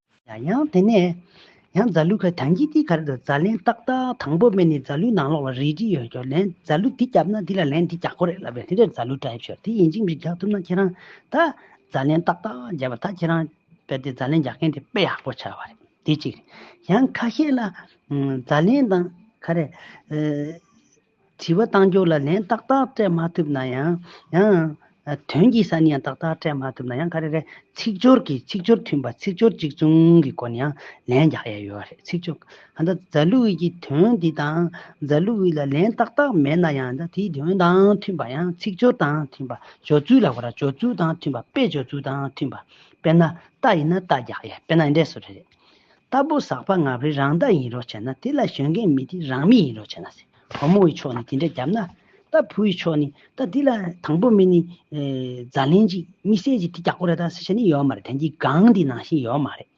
S1: ཡང་དེ་ནས་ཡང་རྫ་ལུ་ཁ་དང་གྱིས་དེའི་ཁར་དུ་རྫ་ལན་ཏག་ཏག་དང་པོ་སྨད་ནས་རྫ་ལུའི་ནང་ལོགས་ལ་རས་བྲིས་ཡོད་ཀྱང་ལན་རྫ་ལུ་དེ་བརྒྱབ་ན་དེ་ལ་ལན་དེ་རྒྱག་ཁོ་རེད་ལབ་པས་དེ་འདྲའི་རྫ་ལུ་བྲ་ཡིབ་ཤོར་དེ་ཡིན་ཅིག་མི་རྒྱག་ཐུབ་ན་ཁྱེད་རང་ད་རྫ་ལན་ཏག་ཏག་བརྒྱབ་པ་ད་ཁྱེད་རང་དཔེ་དེ་རྫ་ལན་རྒྱག་མཁན་དེ་དཔེ་ཡག་པོ་ཆགས་པ་རེད་དེ་གཅིག་རེད་ཡང་ཁ་ཤས་ལ་རྫ་ལན་དང་ཁ་རས་དྲི་བ་གཏང་རྒྱུ་ལ་ལན་ཏག་ཏག་སྤྲད་མ་ཐུབ་ན་ཡང། ཡང། དོན་གྱི་ས་ནས་ཡང་ཏག་ཏག་སྤྲད་མ་ཐུབ་ན་ཡང་ག་རེ་རེད། ཚིག་སྦྱོར་གྱི་ཚིག་སྦྱོར་མཐུན་པ་ཚིག་སྦྱོར་གཅིག་མཚུངས་ཀྱི་སྒོ་ནས་ཡང་ལན་རྒྱག་ཡས་ཡོད་རེད་ཚིག་སྦྱོར་གང་ལྟར་རྫ་ལུ་ཝི་ཀྱི་དོན་འདི་དང་རྫ་ལུ་ཝི་ལ་ལན་ཏག་ཏག་མེད་ན་ཡང་ད་དེའི་དོན་དང་མཐུན་པ་ཡང་ཚིག་སྦྱོར་དང་མཐུན་པ་སྦྱོར་ཚུལ་ལ་གོ་ར་སྦྱོར་ཚུལ་དང་མཐུན་པ་དཔེ་སྦྱོར་ཚུལ་དང་མཐུན་པ་དཔེར་ན་རྟ་ཡིན་ན་རྟ་རྒྱག་ཡས་དཔེར་ན་འདྲེ་སོ་རེད། རྟ་ཕོ་ཟག་པ་ང་བོའི་རང་རྟ་ཡིན་རོགས་བྱས་ན་དེ་ལ་གཞོན་རྒན་མི་དེ་རང་མི་ཡིན་རོགས་བྱས་ན་ཟེར། བུ་མོ་ཡི་ཕྱོགས་ནས་དེ་འདྲ་བརྒྱབ་ན། རྟ་ཕོ་ཡི་ཕྱོགས་ནས་ད་དེ་ལ་དང་པོ་མི་ནི། རྫ་ལན་ཅིག་མི་སེར་ཅིག་དེ་རྒྱག་གོ་རེ་ད་ཟེར་བྱས་ནི་ཡོད་མ་རེད་དོན་གྱི་སྒང་འདི་ནང་བཞིན་ཡོད་མ་རེད།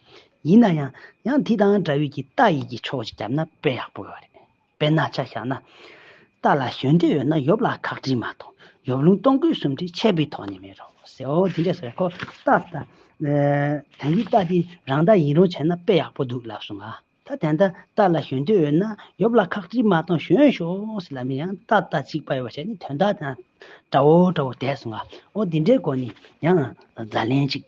S1: ཡིན་ན་ཡང། ཡང་དེ་དང་འདྲ་བའི་གི་རྟ་ཡི་གི་ཕྱོགས་ཅིག་བརྒྱབ་ན་དཔེ་ཡག་པོ་ཡོད་རེད། དཔེར་ན་ཆ་བཞག་ན། རྟ་ལ་གཞོན་སྐྱེས་ཡོད་ན་ཡོབ་ལ་ཁག་དྲིས་མ་གཏོགས་ཡོབ་ལུང་སྟོང་སྐུད་གསུམ་དྲིས་ཆད་པའི་དོགས་གཉེར་མེད་རོ། ཟེའོ། དེ་འདྲས་ཟེར་ཁོ། རྟ་དང། དེང་གི་རྟ་དེ་རང་རྟ་ཡིན་རུང་བྱས་ན་དཔེ་ཡག་པོ་འདུག་ལབ་སོང་ང། ད་དེ་འདྲ་རྟ་ལ་གཞོན་སྐྱེས་ཡོད་ན་ཡོབ་ལ་ཁག་དྲིས་མ་གཏོང་གཞོན་ཤོག་ཟེར་ལབ་ནས་ཡང་རྟ་རྟ་གཅིག་པ་ཡོད་པ་བྱས་ནས་དོན་དག་དེ་དང་འདྲ་བོ་འདྲ་བོ་བསྡད་སོང་ང། འོ་དེ་འདྲའི་སྒོ་ནས་ཡང་བརྫ་ལན་གཅིག།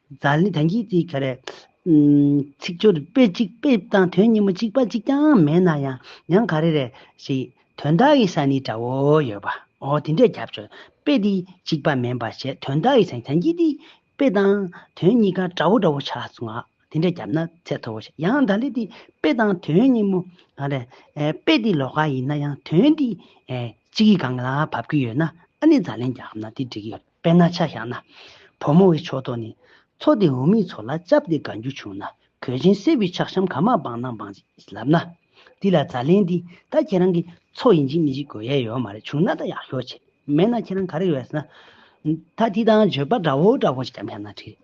S1: ཛཱ་ལི་དང་གིས་ཙི་ག་རེ། ཚིག་སྦྱོར་དཔེ་གཅིག་དཔེ་དང་དོན་གཉིས་མོ་གཅིག་པ་གཅིག་ཀྱང་མེད་ན་ཡང་ཡང་ག་རེ་རེ་ཞིག་དོན་དག་གི་ས་ནི་འདྲ་བོ་ཡོད་པ་འོ་དེ་འདྲས་རྒྱབ་སྦྱོར་དཔེ་འདི་གཅིག་པ་མིན་པ་ཞེས་དོན་དག་གི་ས་ནི་དང་གིས་ཙི་དཔེ་དང་དོན་གཉིས་ཀ་འདྲ་བོ་འདྲ་བོ་ཆགས་སོང་ང་དེ་འདྲས་རྒྱབ་ན་ཚད་མཐོ་བོ་ཞིག་ཡང་ཛཱ་ལི་དེ་དཔེ་དང་དོན་གཉིས་མོ་ག་རེ། དཔེ་འདི་ལོགས་ཀ་ཡིན་ན་ཡང་དོན་འདི་གཅིག་གི་སྒང་ལ་བབ་ཀྱི་ཡོད་ན་ཨ་ནི་ཛཱ་ལན་རྒྱག་ན་དེ་འགྲིག་གི་ཡོད། དཔེར་ན་ཆ་བཞག་ན། བུ་མོ་འི་ཕྱོགས་གཏོགས་ནི། ཚོགས་དེ་འུ་མིའི་ཚོགས་ལ་སྐྱབས་དེ་དགའ་འགྱུར་བྱུང་ན། གོས་ཆེན་སེར་བུའི་ཕྱག་ཤམ་ག་མ་སྦང་ན་སྦང། ལབ་ན། འདི་ལ་ཛྭ་ལན་འདི། ད་ཁྱེད་རང་གི། ཚོགས་ཡིན་གཅིག་མིན་གཅིག་གོ་ཡས་ཡོད་མ་རེད་བྱུང་ན་ད་ཡག་ཤོས་ཆེ། མེད་ན་ཁྱེད་རང་ག་རེ་ཡོད་ཟེར་ན། ད་འདི་དང་བརྗོད་པ་འདྲ་བོ་འདྲ་བོ་ཞིག་བརྒྱབ་ཤག་ན་འགྲིག།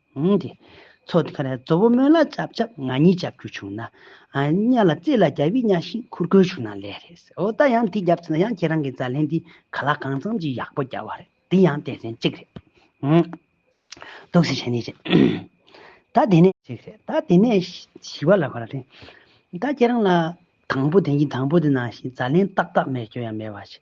S1: ཏེ། ཚོགས་ཀྱི་ཁ་ནས་རྫོ་བོ་མོན་ལ་ལྕགས་ཆབ་ང་གཉིས་བཅའ་བཅུ་བྱུང་ན། གཉའ་ལ་རྩེ་ལ་རྒྱ་བི་གཉའ་ཤིང་ཁུར་གོས་བྱུང་ན་ལེགས་རེད་ཟེར་འོ་ད་ཡང་དེ་བརྒྱབ་ཚེ་ན་ཡང་ཁྱེད་རང་གི་ཛར་ལེན་འདི་ག་ལ་གང་འཚམ་གྱིས་ཡག་པོ་རྒྱག་བ་རེད་དེ་ཡང་ལྟས་ཟན་གཅིག་རེད། འདུག་ཟེར་བྱས་ནས་བྱས། ད་དེ་ནས། ཅིག་རེད་ད་དེ་ནས་ཞི་བ་ལ་གོ་ལ་ཏེ། ད་ཁྱེད་རང་ལ་དང་པོ་དེ་གཉིས་དང་པོ་དེ་ནང་བཞིན་ཛར་ལེན་ཏག་ཏག་མེད་སྐྱོན་ཡང་མེད་བ་ཞིག་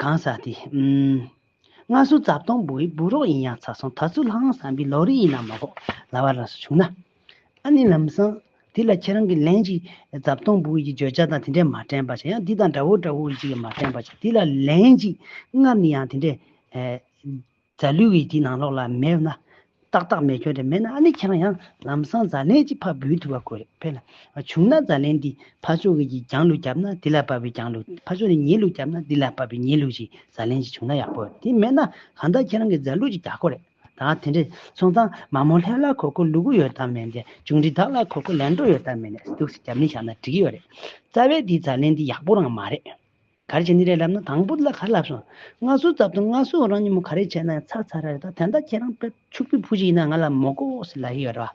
S1: གང་ཟག་དེ། སྔར་སྲོལ་རྩ་སྟོང་བུ་བའི་བུ་རོགས་ཡིན་ཡང་ཚ་སོང་ད་ཚུར་ལྷག་ཨང་བསམ་པའི་ལོག་རིགས་ཡིན་ན་མ་གོ། ལ་བ་རང་སོ་བྱུང་ན། ཨ་ནི་ལམ་སང། དེ་ལ་ཁྱེད་རང་གིས་ལན་ཅིག། རྩ་སྟོང་བུ་བའི་ཀྱི་བརྗོད་བྱ་དང་དེ་འདྲས་མ་དྲན་པ་བྱ་ཡང་འདི་དང་འདྲ་བོ་འདྲ་བོ་ཡིན་ཅིག་མ་དྲན་པ་བྱ་དེ་ལ་ལན་ཅིག། སྔར་ནི་ཡང་དེ་འདྲས། རྫ་ལུས་ཡིད་ཀྱི་ནང་ལོགས་ལ་མེད་ན། ཏག་ཏག་མེ་སྐྱོན་དེ་མེད་ན་ཨ་ནི་ཁྱེད་རང་ཡང་ལམ་སང་རྫ་ལན་གཅིག་ཕར་འབུད་ཐུབ་པ་དགོས་རེད་བལ། བྱུང་ན་རྫ་ལན་འདི་ཕར་ཕྱོགས་ཀྱིས་ཀྱང་ལུག་བརྒྱབ་ན་འདི་ལ་བབས་པའི་ཀྱང་ལུག་ཕར་ཕྱོགས་ནས་ཉེས་ལུག་བརྒྱབ་ན་འདི་ལ་བབས་པའི་ཉེས་ལུག་ཅིག་རྫ་ལན་ཅིག་བྱུང་ན་ཡག་པོ་རེད་དེ་མེད་ན་གང་ལྟར་ཁྱེད་རང་གིས་རྫ་ལུག་ཅིག་རྒྱག་དགོས་རེད་ད་དེ་འདྲའི་སོང་ཙང་མ་མོ་ལྷས་ལ་གོ་གོ་ལུ་གུ་ཡོད་དམ་མེད་དེ་ཅུང་འདྲི་དག་ལ་གོ་གོ་ལན་འགྲོ་ཡོད་དམ་མེད་ནས་སྡུག་སེ་རྒྱབ་ནི་བཞག་ན་འགྲིག་གི་ཡོད་རེད་རྩ་བའི་འདི་རྫ་ལན་འདི་ཡག་པོ་རང་མ་རེད། ག་རེ་བྱས་ནི་རེད་ལབ་ན་དང་པོ་ལ་ག་རེ་ལབ་སོང། སྔ་སོའི་ཙབ་དང་སྔ་སོའི་རང་ཉིད་མོ་ག་རེ་བྱས་ན་ཡང་ཚག་ཚག་ར་རེད་ད་དེ་འདྲ་ཁྱེད་རང་པད་ཕྱུག་པའི་བུ་ཞིག་ཡིན་ན་ང་ལ་མོ་ཀོ་ཨོ་སི་ལ་ཡི་ཡོད་རེད་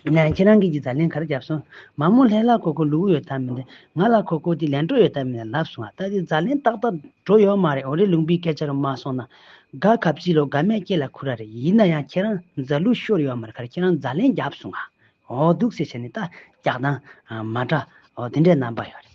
S1: བ། ཡིན་ན་ཡང་ཁྱེད་རང་གིས་ཀྱི་ཛ་ལན་ག་རེ་བརྒྱབ་སོང། མ་མོ་ལྷས་ལ་ཁོ་ཁོ་ལུ་གུ་ཡོད་ད་མི་འདི། ང་ལ་ཁོ་ཁོ་དེ་ལན་འགྲོ་ཡོད་ད་མི་ལ་ལབ་སོང་ང་ད་དེ་ཛ་ལན་ཏག་ཏག་འགྲོ་ཡོད་མ་རེད་འོ་རེད་ལུང་པའི་སྐད་ཆ་རུ་མ་སོང་ན། དགའ་ག་བྱིས་ལོ་དགའ་མའི་སྐྱེ་ལ་ཁུ་ར་རེད་ཡིན་ན་ཡང་ཁྱེད་རང་ཛ་ལུ་ཤོར་ཡོད་མ་རེད་ག་རེ་ཁྱེད་རང་ཛ་ལན་བརྒྱབ་སོང་ང། འོ་སྡུག་སེ་བྱས་ནི་ཏག་རྒྱག་དང། མ་འདྲ་འོ་དེ་འདྲའི་རྣམ་པ་ཡོད་རེད།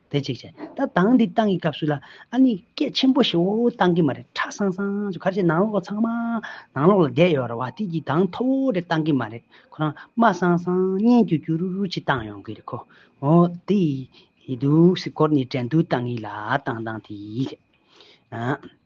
S1: དེ་གཅིག་བྱས་ད་དང་འདི་བཏང་གི་སྐབས་སུ་ལ་ཨ་ནི་སྐད་ཆེན་པོ་ཞིག་འོ་འོ་བཏང་གི་མ་རེད་ཁྲ་སང་སང་ཅུ་ག་ཅེས་ནང་ལོག་ཚང་མ་ནང་ལོག་ལ་བསྡད་ཡོད་ར་བ་དེ་གྱིས་གདངས་མཐོ་བོ་རེ་བཏང་གི་མ་རེད་ཁོ་རང་དམའ་སང་སང་སྙན་གྱུ་གྱུ་རུ་རུ་ཅིག་བཏང་ཡོང་གི་རེད་ཁོ་འོ་དེ་ཡི་འདུག་སེ་སྐོར་ནས་དྲན་དུ་བཏང་གི་ལ་བཏང་བཏང་དེ་ཡིས་རེད།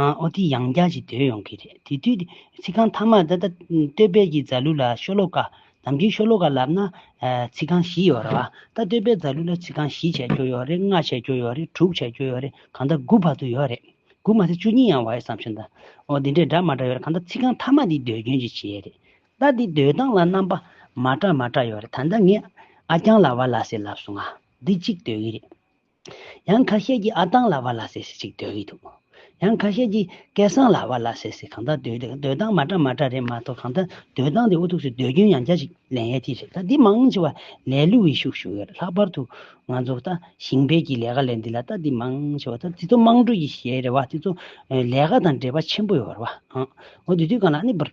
S1: ཨོ་དེ་ཡང་བསྐྱར་ཞིག་དོན་ཡོང་གི་རེད་དེ་དུས་ཚིག་རྐང་མཐའ་མར་ད་ལྟ་སྟོད་དཔལ་གྱི་རྫ་ལུ་ལ་ཤོ་ལོ་ཀ་དམ་གྱི་ཤོ་ལོ་ཀ་ལབ་ན་ཚིག་རྐང་བཞི་ཡོད་རེད་བ་ད་སྟོད་དཔལ་རྫ་ལུ་ལ་ཚིག་རྐང་བཞི་བྱས་འགྱོ་ཡོད་རེད་ལྔ་བྱས་འགྱོ་ཡོད་རེད་དྲུག་བྱས་འགྱོ་ཡོད་རེད་གང་ལྟར་དགུ་བར་དུ་ཡོད་རེད་དགུ་མ་ཚད་བཅུ་གཉིས་ཡང་བ་ཡོད་བསམ་ཞོན་ད་ཨོ་དེ་འདྲའི་འདྲ་མ་འདྲ་ཡོད་རེད་གང་ལྟར་ཚིག་རྐང་མཐའ་མ་དེ་ཟློས་སྐྱོན་གྱིས་བྱས་རེད་ད་དེ་ཟློས་སྟངས་ལ་རྣམ་པ་མ་འདྲ་མ་འདྲ་ཡོད་རེད་ད་ལྟ་ངས་ཨ་རྐྱང་ལ་བ་ལ་སེ་ལབ་སོང་ང་འདི་གཅིག་ཟློས་གི་རེད། ཡང་ཁ་ཤས་ཀྱིས་ཨ་ཐང་ལ་བ་ལ་ཟེར་ཟེར་ཅིག་འདོད་ཀྱི་འདུག་ཡང་ཁ་ཤས་ཀྱིས་སྐལ་བཟང་ལ་བ་ལ་ཟེར་ཟེར་གང་དག་འདོད་འདོད་འདོད་སྟངས་མ་འདྲ་མ་འདྲ་རེད་མ་གཏོགས་གང་ལྟར་འདོད་སྟངས་དེ་ཨུ་ཐུག་སུས་འདོད་རྒྱུན་ཡང་བསྐྱར་ཅིག་ལན་ཡལ་ཐིག་རེད་ད་འདི་མང་ཆེ་བ་ལས་བསླུ་བའི་ཤུགས་ཞུགས་ཡོད་རེད་ལྷག་པར་དུ་ང་ཚོ་ལྟ་ཞིང་སྤེལ་གྱི་ལས་ཀ་ལས་འདི་ལ་ལྟ་འདི་མང་ཆེ་བ་ལྟ་འདི་ཚོ་དམངས་ཁྲོད་ཀྱི་ཞལ་རེ་བ་འདི་ཚོ་ལས་ཀ་དང་འབྲེལ་བ་ཆེན་པོ་ཡོད་རེད་བ་འོ་འདི་དུས་གང་ལ་ཨ་ནི་བར།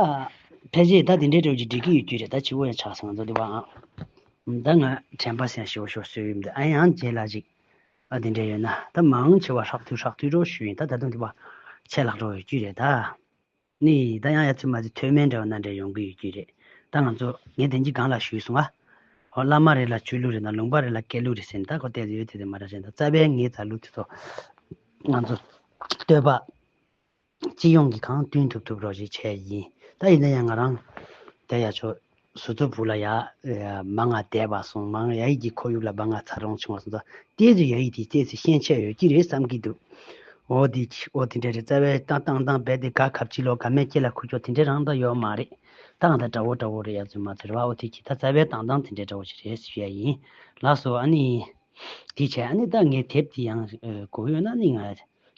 S1: ཨ། ཕལ་ཆེར་ད་དེ་འདྲའི་དྲོད་ཀྱི་སྒྲིག་གི་ཡོད་རྒྱུ་རེད་ད་ཕྱི་བོ་ཡང་ཆགས་སོང་ད་འདི་བ་ཨ། ད་ང་དྲན་པ་སེང་ཞེ་བོ་ཤོར་སྲོལ་ཡོད་མི་འདུག་ཨ་ཡང་རྗེས་ལ་ཅིག་ཨ་དེ་འདྲས་ཡོད་ན་ད་མ་འང་ཆེ་བ་ཧྲག་ཐུལ་ཧྲག་ཐུལ་སྒྲོག་ཞུས་ཡིན་ད་ད་དུང་འདི་བ་ཆད་ལྷག་འགྲོ་ཡོད་རྒྱུ་རེད་ད། ནི། ད་ཡང་ཡ་ཚུལ་མ་ཚུལ་ཐོས་མེད་འདྲ་བ་ན་འདྲས་ཡོང་གི་ཡོད་རྒྱུ་རེད་ད་ང་ཚོ་ངས་དེང་གི་སྒང་ལ་ཞུས་སོང་ཨ། ཧོ་བླ་མ་རེ་ལ་ཆོས་ལུགས་རེ་དང་ལུང་པ་རེ་ལ་སྐད་ལུགས་རེ་ཟེར་ནས་ད་ཁོ་བལྟས་ཡོད་དེ་དེ་མ་འདྲ་ཞེ་ན་རྩ་བའི་ངའི་རྩ་ལུགས་དེ་ཚོ་ང་ཚོ་བསྟོད་པ། སྤྱི་ཡོངས་ཀྱི་གང་བསྟུན་ཐུབ་ཐུབ་རོགས་བྱེད་ཆེད་ཡིན་ད་ཡིན་ན་ཡང་ང་རང་དལ་ཡག་ཆོག་ཟུར་ཚོ་བུ་ལ་ཡག་མ་ང་དལ་བ་སོང་མང་ཡ་ཡིག་གི་ཁོར་ཡུག་ལ་བ་ང་ཚར་རོང་ཆུང་བ་སོང་ད་ལྟའི་ཟུར་ཡ་ཡིག་དེའི་རྩེས་ཚེ་ཤན་ཆད་ཡོད་ཀྱི་རེད་བསམ་གྱི་འདུག་འོ་དེ་འོ་དེ་འདྲ་རེད་རྩ་བའི་ཏང་ཏང་ཏང་རྦད་དེ་དགའ་གབ་ཕྱི་ལོག་དགའ་མས་སྐྱེ་ལ་ཁུ་ཅོ་དེ་འདྲ་རང་ད་ཡོག་མ་རེད་ཏང་ད་དགྲ་བོ་དགྲ་བོ་རེད་ཡག་ཚོད་མ་ཚོད་རེད་བ་འོ་དེ་གྱིས་ད་རྩ་བའི་ཏང་ཏང་དེ་འདྲ་དགྲ་བོ་ཞིག་རེད་ཟེར་ཡ་ཡིན་ལགས་སོ་ཨ་ནི་དེ་བྱས་ཨ་ནི་ད་ངས་དེབ་དེ་ཡང་གོ་ཡོད་ན་ཨ་ནི་ང་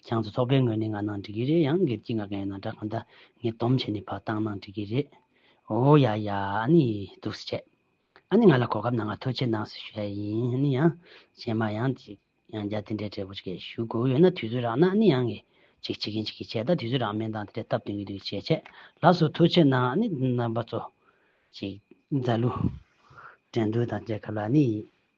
S1: ཁྱང་ཚོ་ཚོགས་པའི་ངོས་ནས་ང་ནང་འགྲིག་གི་རེད་ཡང་སྒེར་གྱི་ང་ག་ཡིན་ན་འདྲ་གང་ལྟ་ངས་སྡོམ་བྱས་ནས་བར་བཏང་ནང་འགྲིག་གི་རེད། ཨོ་ཡ་ཡ་ཨ་ནི་སྡུག་སེ་བྱས། ཨ་ནི་ང་ལ་གོ་སྐབས་ན་ང་ཐུགས་ཆེ་གནང་སེ་ཞུ་ཡ་ཡིན་ཨ་ནི་ཡང་གཞན་མ་ཡང་ཅིག་ཡང་བརྒྱ་དེ་འདྲའི་བྲེལ་པོ་ཅིག་ཞུ་དགོས་ཡོད་ན་དུས་ཚོད་རག་ན་ཨ་ནི་ཡང་ངས་ཅིག་བྱེད་གིན་བྱེད་གིན་བྱས་ད་དུས་ཚོད་རག་མེད་མདང་དེ་འདྲས་སྟབས་སྟོན་གི་འདུག་བྱས་བྱས་ལགས་སོ་ཐུགས་ཆེ་གནང་ཨ་ནི་རྣམ་པ་ཚོ། ཅིག་རྫ་ལུ། དྲན་རྡུལ་དང་བཅས་སྐབས་ལ་ཨ་ནི།